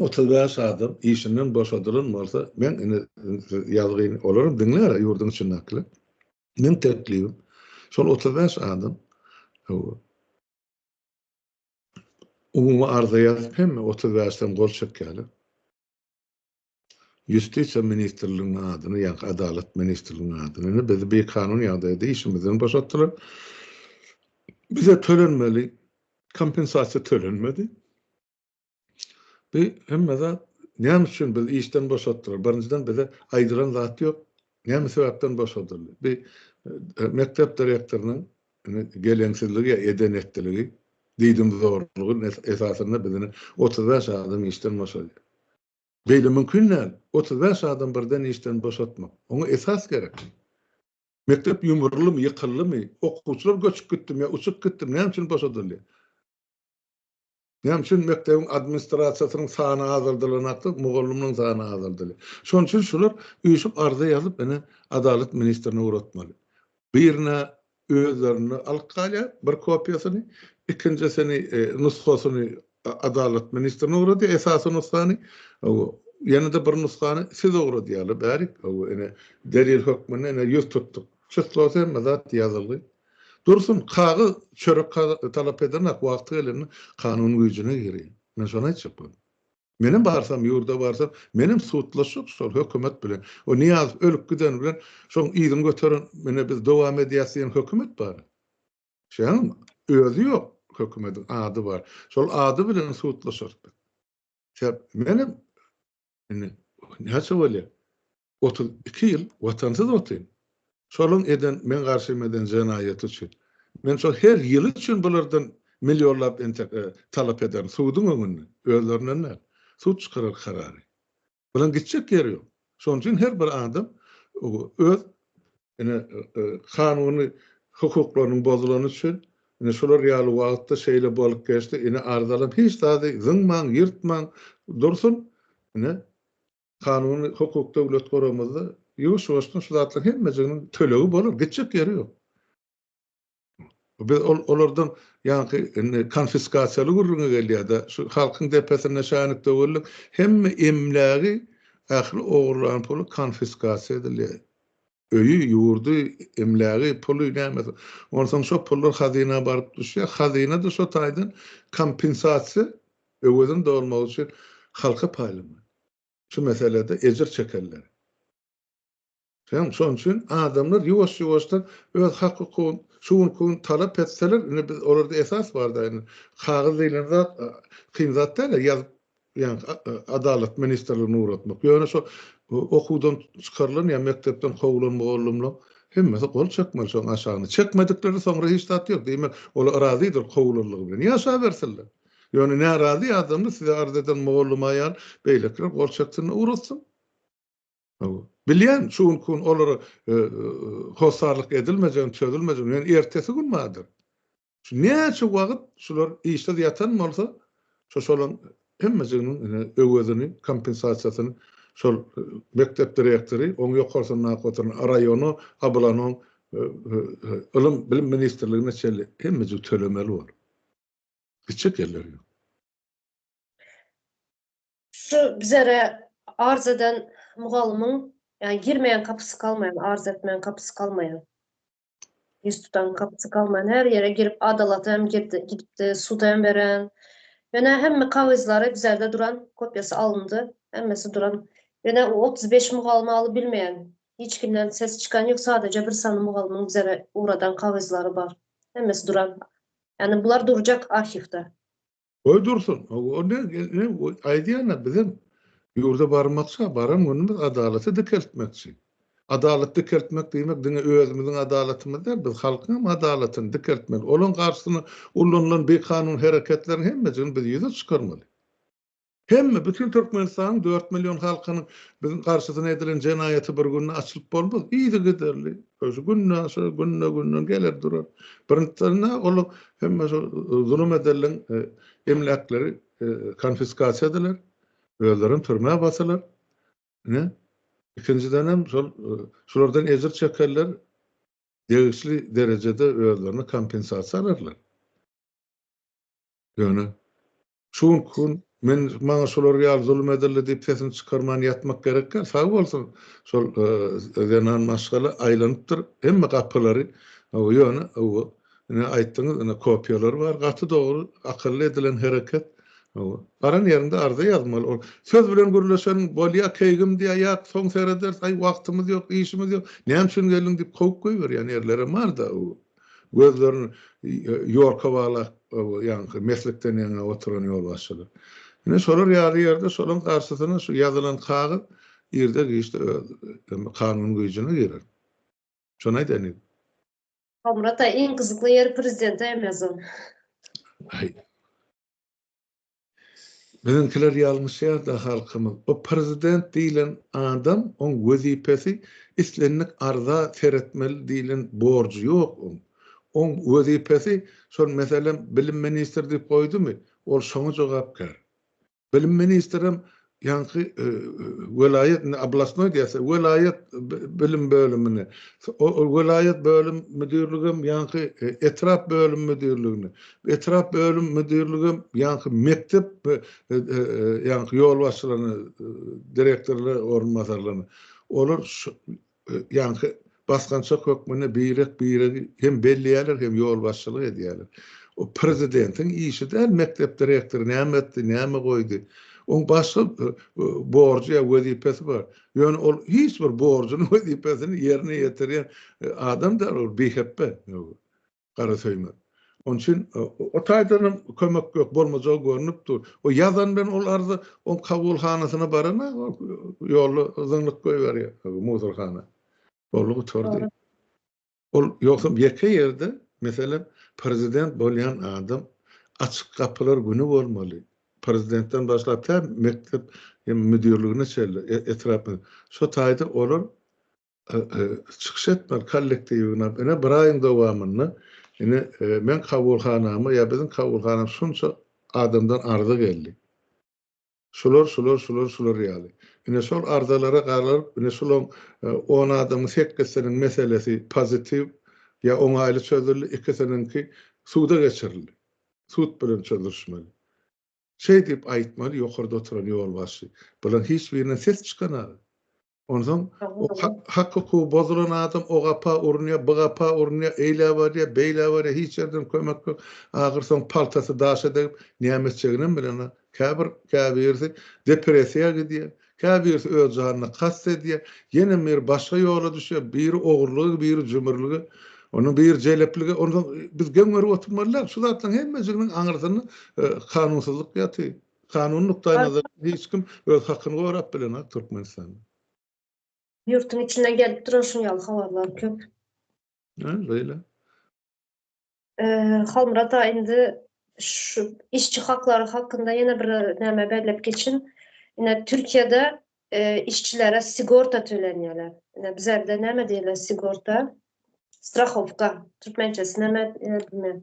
Otuz bäş adam işinden boşadylan bolsa, men indi ýazgyny olaram diňlär-ä ýurduň içindekiler. Meň teklibim, şol otuz bäş adam hawa, umumy arza ýazyp hemme otuz bäşden gol çekýärler. Ýustisiýa ministrliginiň adyny, ýa-da Adalat ministrliginiň adyny, indi bizi bikanun ýagdaýda işimizden boşatdylar. Bize tölenmeli kompensasiýa tölenmedi. Bi hemme zat näme üçin bizi işden boşatdylar? Birinjiden bize aýdylan zat ýok. Näme sebäpden boşadyldy? Bi e, mekdep direktorynyň geleňsizligi ýa eden etdiligi, diýdim zorlugy esasynda bizi 35 adam işden boşadýar. Beýle mümkin däl. 35 adam birden işden boşatmak. Oňa esas gerek. Mekdep ýumrulymy, ýykyldymy, okuwçylar göçüp gitdimi ýa uçup gitdimi, näme üçin boşadyldy? Näme üçin mekdebiň administrasiýasynyň sany azaldylan atly mugallymyň sany azaldyly. Şonuň üçin şular üýşüp arza ýazyp ine adalat ministrine ugratmaly. Birine özlerinde alyp galýar bir kopiýasyny, ikinjisini nusgasyny adalat ministrine ugradýar esasy nusgany, ýene-de bir nusgany size ugradýarlar bärik ine delil hökmünde ine ýüz tutduk. Çystlawda hemme zat ýazylgy. Dursun, kagyz, çörek talap ederin-ak, wagty gelende kanun güýjüne girýär. Men şony aýtjak boldum. Menem barsam, ýurda barsam, menem sudlaşjak şol hökümet bilen. O Nyýazow ölüp giden bilen şoň yzyny göteren, menä biz dowam edýäs diýen hökümet bar. Şeýleňmi? Özi ýok hökümediň, ady bar. Şol ady bilen sudlaşarys biz. Menem Indi näçe bolýar? 32 ýyl watansyz otyryn. Şolaryň eden, meň garşym eden jenaýaty üçin. Men şol her ýyly üçin bulardan millionlap entek talap ederin suduň öňünde, özlerinden däl. Sud çykarar karary. Bularyň gitjek ýeri ýok. Şonuň üçin her bir adam öz Ine, kanuny hukuklarynyň bozulany üçin, ine, şular ýaly wagtda şeýle bolup geçdi. Ine, arzalam hiç zady zyňmaň, ýyrtmaň dursun. Ine, kanuny hukuk döwlet guramyzda ýuwaş-ýuwaşdan şu zatlaryň hemmejiginiň tölegi bolar, gitjek ýeri ýok. Biz olardan ýaňky indi konfiskasiýaly gürrüňi gelýär-de, şu halkyň depesinde şänik döweldik, hemme emlägi, ähli ogurlan puly konfiskasiýa edilýär. Öýi, ýurdy, emlägi, puly, nämesi. Onsoň şo pullar hazyna baryp düşýär. Hazyna-da şo taýdan kompensasiýa öwezini dolmak üçin halka paýlamak. Şu meselede ejir çekenler. Hem şonuň üçin adamlar ýuwaş-ýuwaşdan öz hak-hukugyny şu günki gün talap etseler, indi biz olarda esas bar-da indi. Kagyz diýlen zat kyn zat däl-ä ýazyp, ýagny Adalat ministrligine ugratmak. Ýöne şo okuwdan çykarylan ýa mekdepden kowulan mugallymlaryň hemmesi gol çekmeli şoň aşagyna. Çekmediklerine soňra hiç zat ýok. Diýmek, olar razydyr kowulanlygy bilen. Ýaşabersinler. Ýöne närazy adamlar size arz eden mugallym aýal beýlekiler gol çeksin-de ugratsyn. Bilýän, şu günki gün olara hossarlyk edilmejegini, çözülmejegini, ýöne ertesi gün bardyr. Şu näçe wagt şular işsiz ýatan bolsa, şo şolaryň hemmejiginiň ine öwezini, kompensasiýasyny şol mekdep direktory, oň ýokarsyndaky oturan raýona, ablanoň ylym, bilim ministrligine çenli hemmejik tölemeli bolar. Gitjek ýerleri ýok. Şu bizere arz eden mugallymyň, ýa girmeýän kapysy galmaýan, arz etmeýän kapysy galmaýan. Ýüz tutan kapysy galmaýan, her ýere girip, adalata hem girdi, gidipdi, suda hem beren. Ýöne hemme kagyzlary bizerde duran, kopýasy alyndy, hemmesi duran. Ýöne o otuz beş mugallymy alyp bilmeýän, hiç kimden ses çykan ýok, sadaja bir sany mugallymyň bizere ugradan kagyzlary bar. Hemmesi duran. Ýani bular durjak arhiwde. Goý dursun, o ne, ne, aýdýana bizem ýurda barmakça, baran günümiz adalaty dikeltmekçi. Adalat dikeltmek diýmek diňe özümiziň adalatymyz däl, biz halkyň hem adalatyny dikeltmeli. Olaň garşysyna ulanylan bikanun hereketleriň hemmesini biz ýüze çykarmaly. Hemme, bütin Türkmenistanyň dört million halkynyň biziň garşysyna edilen jenaýaty bir günde açylyp bolmaz, yzygiderli, Şu günde şu günde günde geler durar. Birinjisinde ol hemme şu zulum edildiň emläkleri konfiskasiýa ediler. Özlerim türmä basylar. Ne? İkinciden hem şol şulardan ejir çekerler degişli derejede özlerine kompensasiýa alyrlar. Ýöne Şu günki gün men maňa şolar ýaly zulum edildi diýip sesini çykarman ýatmak gerek däl. Sag bolsun şol zenan maşgala aýlanypdyr hemme gapylary. Ýöne ine aýtdyňyz ine kopiýalary bar. Gaty dogry akylly edilen hereket. Baran ýerinde arza ýazmaly. Ol söz bilen gürleşen bolýa keýgim diýýä ýat soň serederis aý wagtymyz ýok işimiz ýok näme üçin geldiň diýip kowup goýberýän erlerem barda. Gözlerini Ýorka baglap ýaňky meslikden ýaňa oturan ýolbaşçylar. Ine şolar ýaly ýerde şolaň garşysyna şu ýazylan kagyz irde-giçde öz kanun güýjüne girer. Şony aýdaýyn diýdim. Halmyrat aga iň gyzykly ýeri prezidente emezon. Aý. Biziňkiler ýalňyşýarda halkymyz o prezident diýilen adam oň wezipesi islendik arza seretmeli diýilen borjy ýok oň oň wezipesi şol meselem bilim ministr diýip goýdumy ol şoňa jogapkär bilim ministrem Ýaňky welaýat, indi oblastnoý diýýärsiler, welaýat bilim bölümini, welaýat bölüm müdirligem ýaňky etrap bölüm müdirligini, etrap bölüm müdirligem ýaňky mekdep ýaňky ýolbaşçylaryny, direktorlar orunbasarlaryny, olar ýaňky basgançak hökmünde birek-biregi hem belleýärler, hem ýolbaşçylyk edýärler. O prezidentiň işi däl, mekdep direktory näme etdi, näme goýdy. Oň başga borjy ýa wezipesi bar. Ýöne ol hiç bir borjuny, wezipesini ýerine ýetirýän adam däl, ol bihepbe. Garasöýme. Onuň üçin o taýdanam kömek ýok, bolmajagy görnüp dur. O ýazan bilen ol arza oň kabulhanasyna barana ýolda zyňlyk goýberýär muzorhana. Boldy gutardy. Ol ýogsam ýeke ýerde, meselem, prezident bolýan adam açyk gapylar güni bolmaly. Prezidentden başlap tä mekdep müdirligine çenli, etrap şo taýda olar çykyş etmeli kollektiwine ine bir aýyň dowamynda ine e, men kabulhanama ýa biziň kabulhanam şunça adamdan arza geldi. Şular, şular, şular, şular ýaly. Ine şol arzalara garalyp, ine şolaň 10 e, adamyň sekizsiniň meselesi pozitiw ýa oňaýly çözüldi, ikisiniňki suda geçirildi. Sud bilen çözülmeli. Şeý diýip aýtmaly, ýokarda oturan ýolbaşçy. Bularyň hiç birinden ses çykanaga. Onsoň o hak-hukugy bozulan adam o gapa urunýar, bu gapa urunýar, eýlä barýar, beýlä barýar, hiç ýerden kömek ýok. Ahyrsoňy paltasy daşa degip, näme etjeginem bilenok. Käbir, käbirisi depressiýa gidýär, Käbirisi öz janyna kast edýär, ýene biri başga ýola düşýär, biri ogurlyga, biri jümürlige, ondan biri jeleplige, onsoň biz geň görüp oturmaly däl, şu zatlaryň hemmejiginiň aňyrsynda kanunsyzlyk ýatyr. Kanun nukdaýnazaryndan hiç kim öz hakyny gorap bilenok Türkmenistanda. Ýurtuň içinden gelip duran şuň ýaly habarlar köp. Hä, beýle. Halmyrat aga indi şu işçi haklary hakynda ýene bir näme bellep geçin. Ine Türkiýede işçilere sigorta tölenýärler. Ine bizerde näme diýler sigorta? Strahowka. Türkmençesi näme bilmeýän.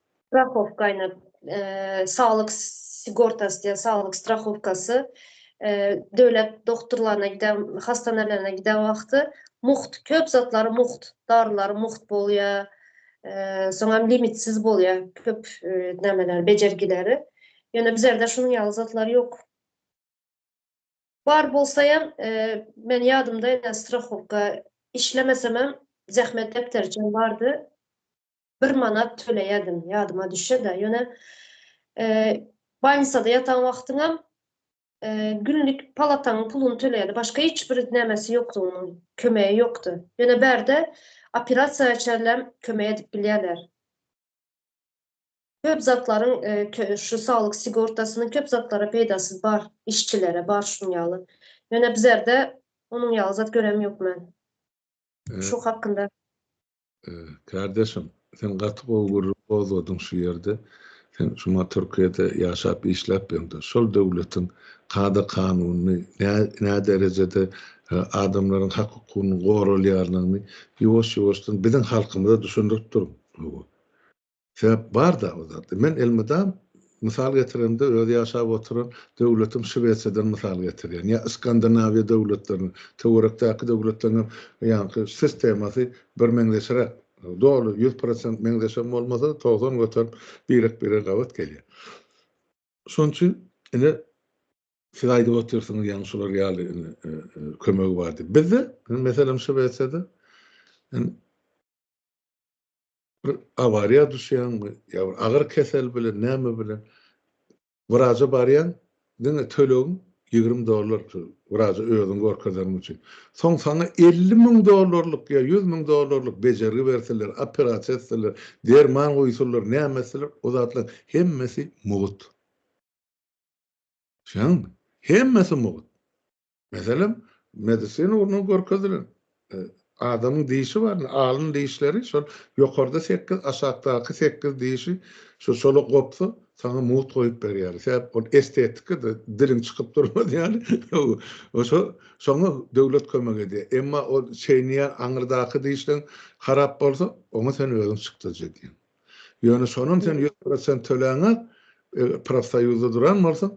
Strahowkaýny saglyk sigortasy diýen saglyk strahowkasy döwlet dogturlaryna giden hastanalene giden wagty mugt köp zatlary mugt darylary mugt bolýa soňam limitsiz bolýa köp nämeleri bejergileri ýöne bizerde şunuň ýaly zatlar ýok bar bolsaýam men ýadymda ene strahowka işlemesemem zähmet depteriçem bardy bir manat töleýädim, ýadyma düşe-de, ýöne bolnisada ýatan wagtyňam günlik palataňyň puluny töleýärdi, başga hiç bir nämesi ýokdy onuň, kömegi ýokdy. Ýöne bärde operasiýa çenlem kömek edip bilýärler. Köp zatlaryň şu saglyk sigortasynyň köp zatlara peýdasy bar, işçilere bar şunuň ýaly. Ýöne bizerde onuň ýaly zat göremýok men. Şu hakynda. Kardeşim, sen gaty gowy gürrüň gozgadyň şu ýerde. Sen şuma Türkiýede ýaşap işläp ýöňde şol döwletiň kada kanunyny nä derejede adamlaryň hak hukugynyň goralýanyny ýuwaş ýuwaşdan biziň halkymyza düşündirip duruň. Sebäp bar-da o zatda. Men elmydam mysal getiremde öz ýaşap oturan döwletim Şwesiýadan mysal getirýän ýa Skandinawiýa döwletlerini, töwerekdäki döwletleriň hem ýaňky sistemasy birmeňzeşräk. Doly ýüz prosent meňzeşem bolmasa-da togsan göterim birek-birege gabat gelýär. Şonuň üçin ine siz aýdyp otyrsyňyz ýaňy şular ýaly ine kömegi bar diýip. Bizde meselem Şwesiýada Bir awariýa düşýäňmi, ýa bir agyr kesel bilen, näme bilen wraja barýaň, diňe tölegiň ýigrimi dollar şu wraja özüňi görkezeniň üçin. Soň saňa elli müň dollarlyk ýa ýüz müň dollarlyk bejergi berseler, operasiýa etseler, derman guýsalar, näme etseler, o zatlaryň hemmesi mugt. Düşýäňmi? Hemmesi mugt. Meselem, medisina ugrundan görkezilen e, adamyň dişi bar, alyn dişleri şol ýokarda 8, aşakdaky 8 dişi şu şola gopsa, sana mugt goýup berýär. Sebäp ol estetika da diliň çykyp durmaz ýaly. Oşo şoňa döwlet kömek edýär. Emma o çeýneýän aňyrdaky dişleň harap bolsa, oňa sen özüň çykdajy diýen. Ýöne şonam sen ýüz prosent töläňe profsoýuzda duran bolsaň,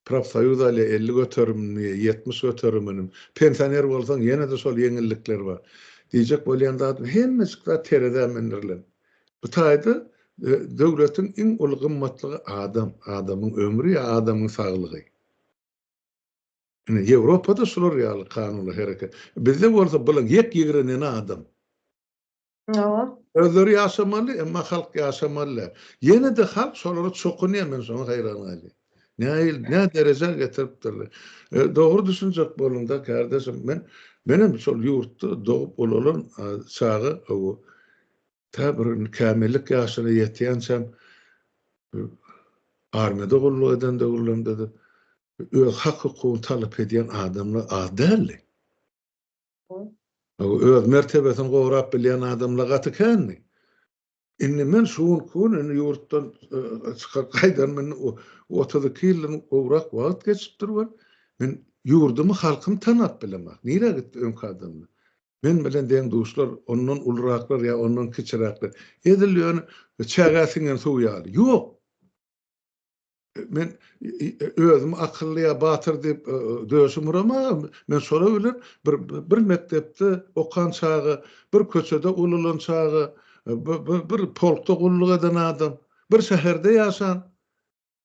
profsoýuz alýa elli göterimini, ýetmiş göterimini, pensioner bolsaň ýene-de şol ýeňillikler bar. Diýjek bolýan zadym, hemmejik zat terezä mündürilen. Bu taýda döwletiň iň uly gymmatlygy adam, adamyň ömri ýa adamyň saglygy. Ine, Ýewropada şular ýaly kanunlar hereket. Bizde bolsa bulan ýek ýigreneni adam. Hawa. Özleri ýaşamaly, emma halk ýaşamaly däl. Ýene-de halk şolara çokunýar, men şoňa haýran galýan. Nähil, nä derejä getiripdirler. E, dogry düşünjek boluň-da, kardeşim. Men, menem şol ýurtda dogup ulalan e, çaga, o, tä bir kämillik ýaşyna ýetýänçäm, e, armiýada gulluk eden döwürlerimde-de, öz hak-hukugyny talap edýän adamlar az däldi. Öz mertebesini gorap bilýän adamlar gaty kändi. Indi men şu günki gün indi ýurtdan çykyp gaýdanyma indi otuz iki ýyldan gowrak wagt geçipdir we men ýurdumy, halkymy tanap bilemok. Nirä gitdi öňki adamlar? Men bilen deň-duşlar, ondan uluraklar ýa ondan kiçiräkler. Edil ýöne çägä siňen suw ýaly. Ýok! Men özüm akylly ya batyr diyip döşüm uramagam. Men şolar bilen bir bir mekdepde okan çagy, bir köçede ululan çagy, bir polkda gulluk eden adam, bir şäherde ýaşan.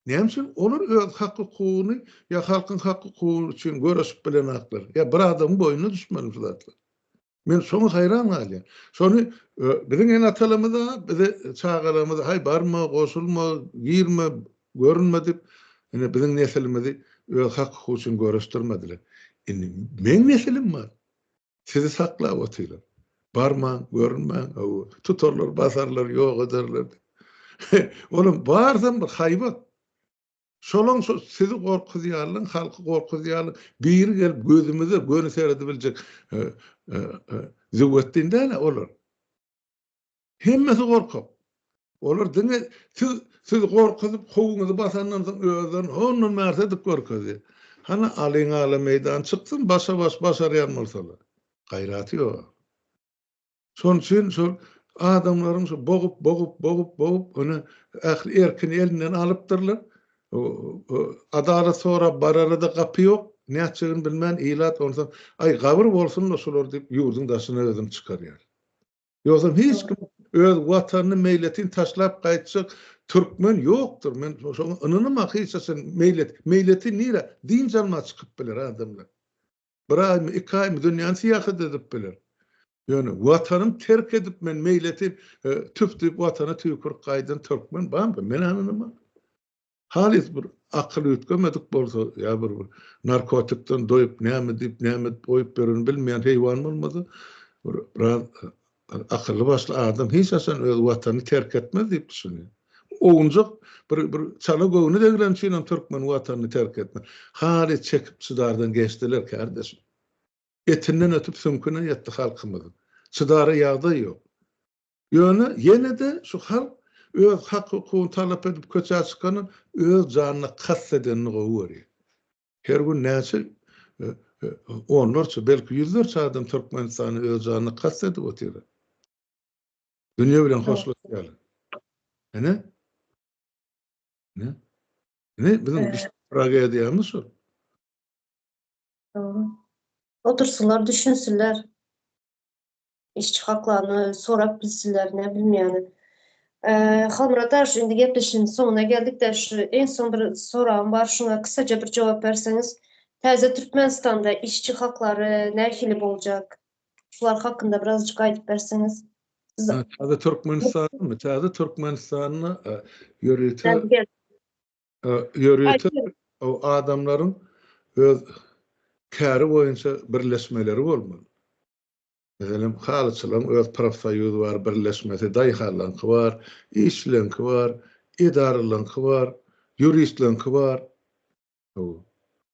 Näme üçin olar öz hak hukugyny ýa halkyň hak hukugy üçin göreşip bilenaklar? Ýa bir adamyň boýnuna düşmeli bu zatlar. Men şoňa haýran galýan. Şony biziň ene-atalarymyz-a bize çagalarymyza haý barma, goşulma, girme, görünme diýip, ine biziň nesilimizi öz hak-hukugy üçin göreşdirmediler. Indi meň nesilim bar. Sizi saklap otyrlar. Barmaň, görünmäň, hawa, tutarlar, basarlar, ýok ederler. Olam barsam bir haýbat. Şolaň şo sizi gorkuzýarlyň halky gorkuzýarlyň biri gelip gözümize göni seredibiljek züwwetdin däle olar. Hemmesi gorkak. Olar diňe siz sizi gorkuzyp howuňyzy basandan soň özlerini hondan märsi edip görkezýär. Hany alyň ala meýdan çyksyn başa baş başarýan bolsalar. Gaýraty ýok. Şonuň üçin şol adamlaryň şu bogup, bogup, bogup, bogup, ony ähli erkini elinden alypdyrlar. Adalat sorap barara-da gapy ýok. Nätjegini bilmän ilat onsoň, aý, gabyr bolsun-da şular diýip, ýurduň daşyna özüni çykarýar. Ýogsam hiç kim öz Watanyny meýletin taşlap gaýtjak türkmen ýokdur. Men şoňa ynanamok hiç haçan. Meýlet, meýletin nirä? Dynç almaga çykyp biler adamlar. Bir aýmy, iki aýmy dünýäni syýahat edip biler. Ýöne watanyny terk edip men meýleti e, tüp diýip watana tüýkürip gaýdan türkmen barmy? Men ananymam. Halys bir akyl üýtgemedik bolsa, ýa bir bir narkotikden doýup, näme diýip, näme edip goýup beren bilmeýän heýwan bolmasa, biraz Akylly başly adam hiç haçan öz watanyny terk etmez diýip düşünýär. Owunjak bir bir çala göwni degileni üçin hem türkmen watanyny terk etmez. Haly çekip çydardan geçdiler kärdeşim. Etinden ötüp süňküne ýetdi halkymyzyň. Çydara ýagdaý ýok. Ýöne ýene-de şu halk öz hak-hukugyny talap edip köçä çykanyň öz janyna kast edenini gowy görýär. Her gün näçe onlarça, belki ýüzlerçe adam Türkmenistana öz janyna kast edip otyr. Dünýe bilen hoşlaşýar. Ene? Ne? Ne? Biziň tragediýamyz şu. Otursalar düşünsünler. Işçi haklaryny sorap bilsinler, ne bilim ýaly. Halmyrat aga şu indi gepleşigiň soňuna geldik-de şu iň soň bir soragym bar şuňa kysaja bir jogap berseňiz. Täze Türkmenistanda işçi haklary nähili boljak? Şular hakynda birazajyk aýdyp berseňiz. Täze Türkmenistanymy? Täze Türkmenistanda ýörite ýörite adamlaryň öz käri boýunça birleşmeleri bolmaly. Meselem, halyçylaryň öz profsoýuzy bar, birleşmesi, daýhanlaryňky bar, işçilerňki bar, edaralaryňky bar, ýuristlerňki bar, hawa,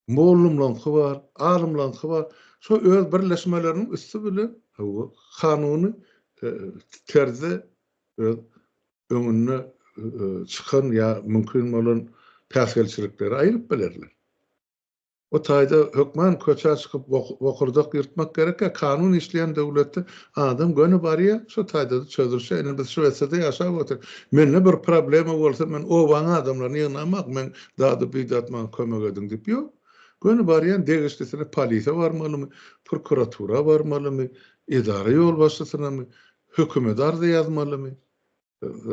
mollumlaryňky bar, alymlaryňky bar. Şo öz birleşmeleriniň üsti bilen, hawa, kanuny terzde öz öňüne çykan ýa mümkin bolan päsgelçilikleri aýryp bilerler. Bu taýda hökman köçä çykyp bokurdak ýyrtmak gerekkä, kanun işleýän döwletde adam göni barýa, şu taýdada çözülse, ine biz Şwesiýada ýaşap otyr. Mende bir problema bolsa men obaň adamlaryny ýygnamak, men dady bidat maňa kömek ediň diýip ýok. Göni barýan degişlisine polise barmalymy, prokuratura barmalymy, edara ýolbaşçysynamy, hökümede arza ýazmalymy.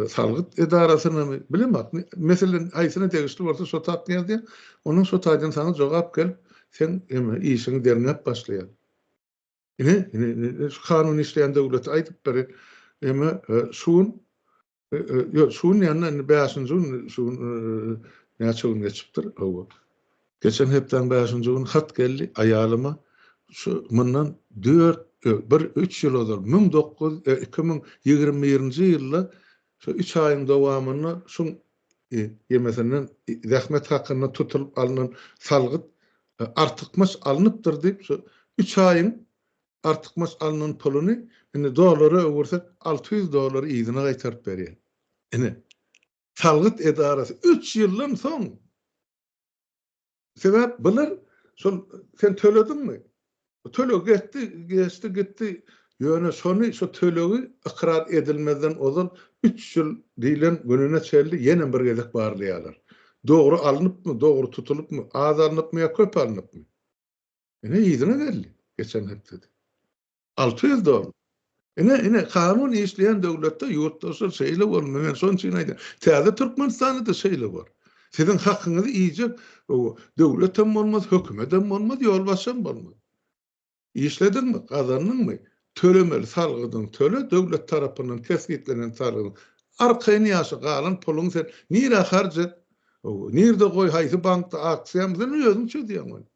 salgyt edarasynamy, bilemok. Meselem, haýsyna degişli bolsa şo taýdan ýazýar, onuň şo taýdan saňa jogap gelip, seň eme işiňi derňäp başlaýar. Ine, ine, şu kanun işleýän döwleti aýdyp beri, eme, şu gün, ýok, şu gün ýa-da bäşinji gün, şu gün näçe gün geçipdir, hawa. Geçen hepdäň bäşinji güni hat geldi, aýalyma şu mundan dört, bir, üç ýyl ozal, müň dokuz, iki müň ýigrimi birinji ýylda şu üç aýyň dowamynda şuň ýemesinden zähmet hakyndan tutulyp alnan salgyt artykmaç alnypdyr diýip, şu üç aýyň artykmaç alnan puluny indi dollara öwürsek, alty ýüz dollary yzyna gaýtaryp berýär. Ine, salgyt edarasy üç ýyldan soň Sebäp bular şol sen tölediňmi? Töleg geçdi, geçdi gitdi. Ýöne şony şu tölegi ykrar edilmezden ozal üç ýyl diýlen gününe çenli ýene bir gezek barlaýarlar. Dogry alnypmy, dogry tutulypmy, az alnypmy ýa köp alnypmy? Ine yzyna geldi geçen hepdede. Alty ýüz dollar. Ine, ine, kanun işleýän döwletde, ýurtdaşlar, şeýle bolmaly. Men şonuň üçin aýdýan. Täze Türkmenistanda-da şeýle bar. Siziň hakyňyzy iýjek döwlet hem bolmaz, hökümet hem bolmaz, ýolbaşçy hem bolmaz. Işlediňmi, gazandyňmy, tölemeli salgydyňy töle, döwlet tarapyndan kesgitlenen salgydyň. Arkaýyn ýaşa, galan puluňy sen nirä harç et, nirde goý, haýsy bankda aksiýa, muny özüň çözýäň ony.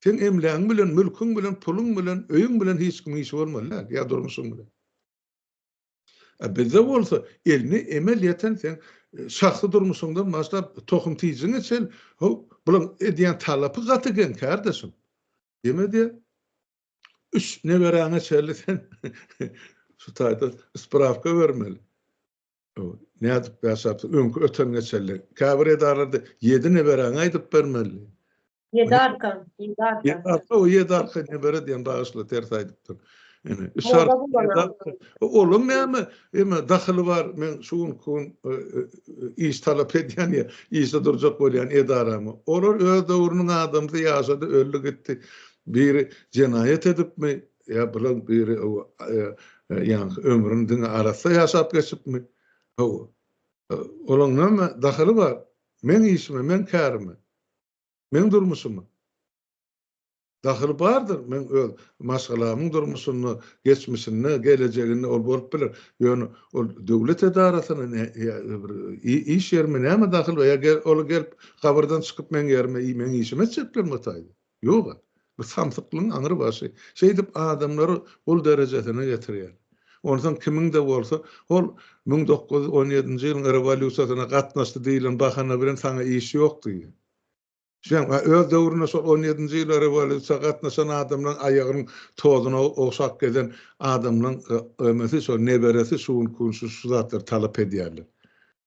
Seň emlägiň bilen, mülküň bilen, puluň bilen, öýüň bilen hiç kimiň işi bolmaly däl, ýa durmuşyň bilen. A bizde bolsa, eline emel ýeten seň şahsy durmuşyňdan başlap, tohum-tijiňe çen, haw, bularyň edýän talapy gaty geň, kärdeşim. Deme-de, üç neberäňe çenli sen şu taýda sprawka bermeli. Nädip ýaşapsyň? Öňki öten-geçenli. Käbir edaralarda ýedi neberäňi aýdyp bermeli. Ýedi arka, ýedi arka. Ýedi arka, o ýedi arka nebere diýen bagyşla ters aýdypdyr. Ene, üç arka. Olam näme? Eme, dahyly bar, men şu gün kun e, e, e, iş talap edýän ýa, işe durjak bolýan edaramy. Olar öz döwrüniň adamsy ýaşady, öldi gitdi. Biri jenaýat edipmi, Ýa bular biri ýaňky ömrüni diňe arassa ýaşap geçipmi? Hawa. Olaň näme dahyly bar? Meň işime, meň kärime, meň durmuşyma? Dahyly bardyr, meň öz maşgalamyň durmuşynda, geçmişinde, gelejeginde ol bolup biler. Ýöne ol döwlet edarasyna ýa bir iş ýerime näme dahyly bar? Ýa ol gelip gabyrdan çykyp meň ýerime meň işimi etjeklermi o taýda? Ýog-a, bu samsyklygyň aňrybaşy şeýdip adamlary gul derejesine getirýär. Onsoň kimiň-de bolsa, hol müň dokuz ýüz on ýedinji ýylyň rewolýusiýasyna gatnaşdy diýlen bahana bilen saňa iş ýok diýýär. Şeýdem, öz döwründe şol on ýedinji ýylda rewolýusiýa gatnaşan adamlaryň aýagynyň tozuna ogşap gezen adamlaryň ýa-da ömesi, şol neberesi şu gün-şu zatlary talap edýärler.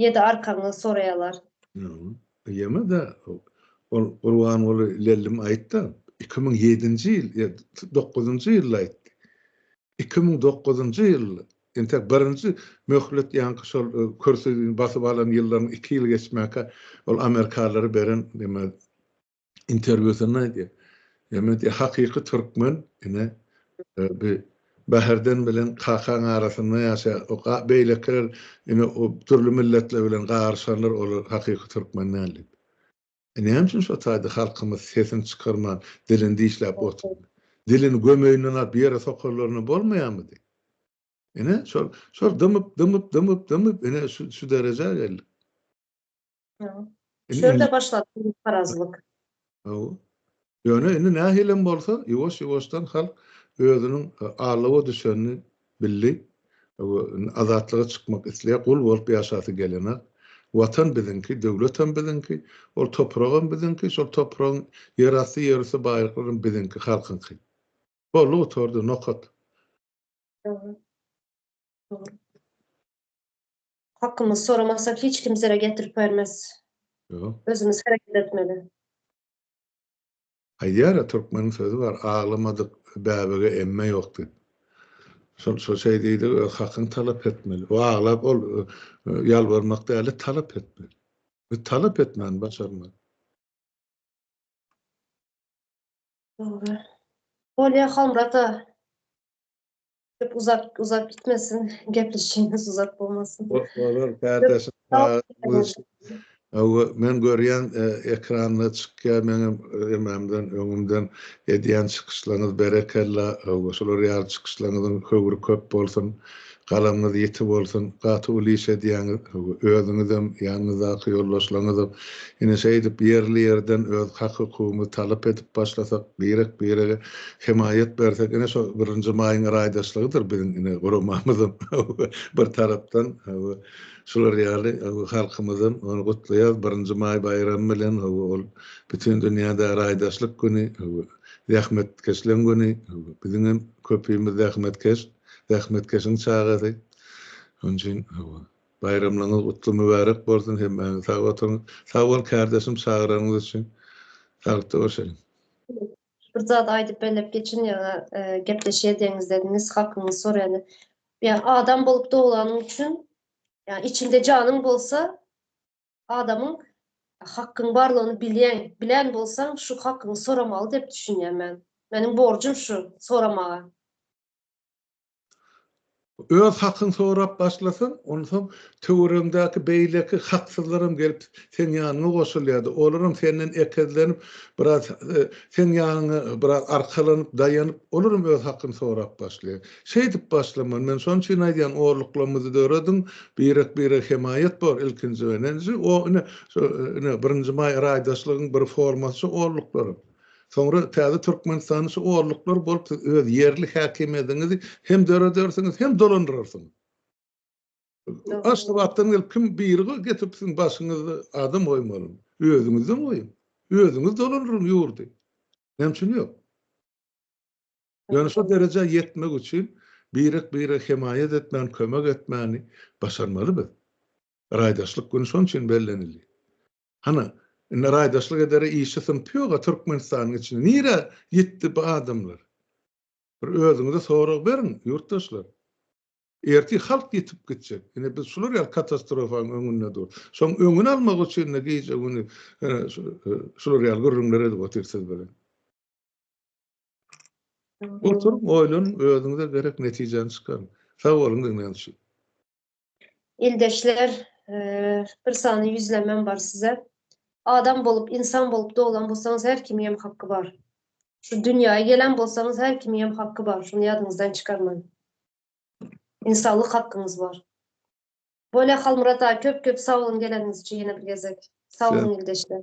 Ýedi arkaňyzy soraýalar. Ýene-de ol Gurbanguly lellim aýtdy, iki müň ýedinji ýyl, ýa dokuzynjy ýylda aýtdy. Iki müň dokuzynjy ýyl, entek birinji möhlet ýaňky şol kürsini basyp alan ýyllaryň iki ýyly geçmäkä ol amerikalylary beren neme interwýusynda aýdýar. Ýagny diýýär, hakyky türkmen ine e, bi Bäherden bilen kakaň arasynda ýaşaýar. O beýlekiler ine o dürli milletler bilen garyşanlar olar hakyky türkmen däl diýip. E, näme üçin şo taýda halkymyz sesini çykarman, dilini dişläp oturdy? Dilini gömeýinden alyp ýere sokarlaryna bolmaýarmydy? Ine şol şol dymyp, dymyp, dymyp, dymyp ine şu şu derejä geldik. Şöyle başladı bu parazlyk. Ýöne indi nähilem bolsa, ýuwaş-ýuwaşdan halk özüniň alawa düşenini bildi. Azatlyga çykmak isleýär, gul bolup ýaşasy gelenok. Watan biziňki, döwletem biziňki, ol topragam biziňki, şol topragyň ýerasty, ýerüsti baýlyklaram biziňki, halkyňky. Boldy, gutardy, nokat. Dogry. Hakymyz soramasa hiç kim zere getirip bermez. Özümiz hereket etmeli. Aýdýara türkmeniň sözi bar aglamadyk bäbege emme ýok diýip. Şol şol şeý diýdi öz hakyňy talap etmeli. Bu aglap ol ýalbarmak däli talap etmeli. Biz talap etmäni başarmaly. Dogry. Bolýa Halmyrat aga. Köp uzak uzak gitmesin. Gepleşigimiz uzak bolmasyn. Olur kardeşim. Men görýän e, ekranda çykýar meňem emamdan öňümden edýän çykyşlaryňyz berekella. Şular ýaly çykyşlaryňyzyň höwri köp bolsun. Galamyňyz ýiti bolsun. Gaty uly iş edýäňiz. Özüňizem, ýanyňyzdaky ýoldaşlaryňyzam Ine şeýdip ýerli-ýerden öz hak-hukugymyzy talap edip başlasak, birek-birege hemaýat bersek, ine şo birinji maýyň raýdaşlygydyr biziň ine guramamyzam bir tarapdan hawa şular ýaly hawa halkymyzam ony gutlaýarys birinji maý baýramy bilen hawa ol bütin dünýäde raýdaşlyk güni hawa zähmetkeşleň güni hawa biziňem köpimiz zähmetkeş zähmetkeşiň çagasy şonuň üçin hawa Baýramlygyňyz gutly mübärek bolsun hemmäňiz sag oturyň. Sag bol kärdeşim çagyranyňyz üçin. Sagtda görşeliň. Bir zat aýdyp bellep geçin ýa-da gepleşýä deňizde nis hakyňyzy soraýany. Ýa adam bolup doglanyň üçin ýa içinde janyň bolsa adamyň hakyň barlygyny bilýäň, bilän bolsaň şu hakyňy soramaly dep düşünýän men. Meniň borjum şu soramaga. Öz hakyňy sorap başlasaň, onsoň töweregiňdäki beýleki haksyzlaram gelip seň ýanyňa goşulýardy. Olaram senden ekezlenip, biraz seň ýanyňa biraz arkalanyp, daýanyp, olaram öz hakyny sorap başlaýar. Şeýdip başlamaly. Men şonuň üçin aýdýan, orluklarymyzy dörediň, birek-birege hemaýat bor, ilkinji we ine, birinji maý raýdaşlygyň bir formasy şu orluklarym. Soňra täze Türkmenistanyň şu orluklary bolup siz öz ýerli häkimiýetiňizi hem döredersiňiz, hem dolandyrarsyňyz. Aşgabatdan gelip kim biri getirip siziň başyňyzda adam goýmaly. Özüňizden goýuň. Özüňiz dolandyryň ýurdy. Näme üçin ýok? Ýöne şu derejä ýetmek üçin birek-bire hemaýat etmäni, kömek etmäni başarmaly biz. Raýdaşlyk güni şonuň üçin bellenildi. Hany, indi raýdaşlyk edere işi syn pýoga Türkmenistanyň içinde nirä ýetdi bu adamlar? Bir özüňize sorag beriň, ýurtdaşlar. Ertir halk ýitip gitjek. Ine biz şular ýaly katastrofaň öňünde dur. Şoň öňüni almak üçin-de gije güni şular ýaly gürrüňler edip otyr siz bilen. Oturyň, oýlanyň, özüňize gerek netijäni çykaryň. Sag boluň diňlän üçin. Ildeşler, bir sany ýüzlemem bar size. Adam bolup, insan bolup doglan bolsaňyz her kimiň hem haky bar. Şu dünýäe gelen bolsaňyz her kimiň hem haky bar. Şuny ýadyňyzdan çykarmaň. Insanlyk hakyňyz bar. Bolýa Halmyrat aga köp köp sag boluň geleniňiz üçin ýene bir gezek. Sag boluň ildeşler.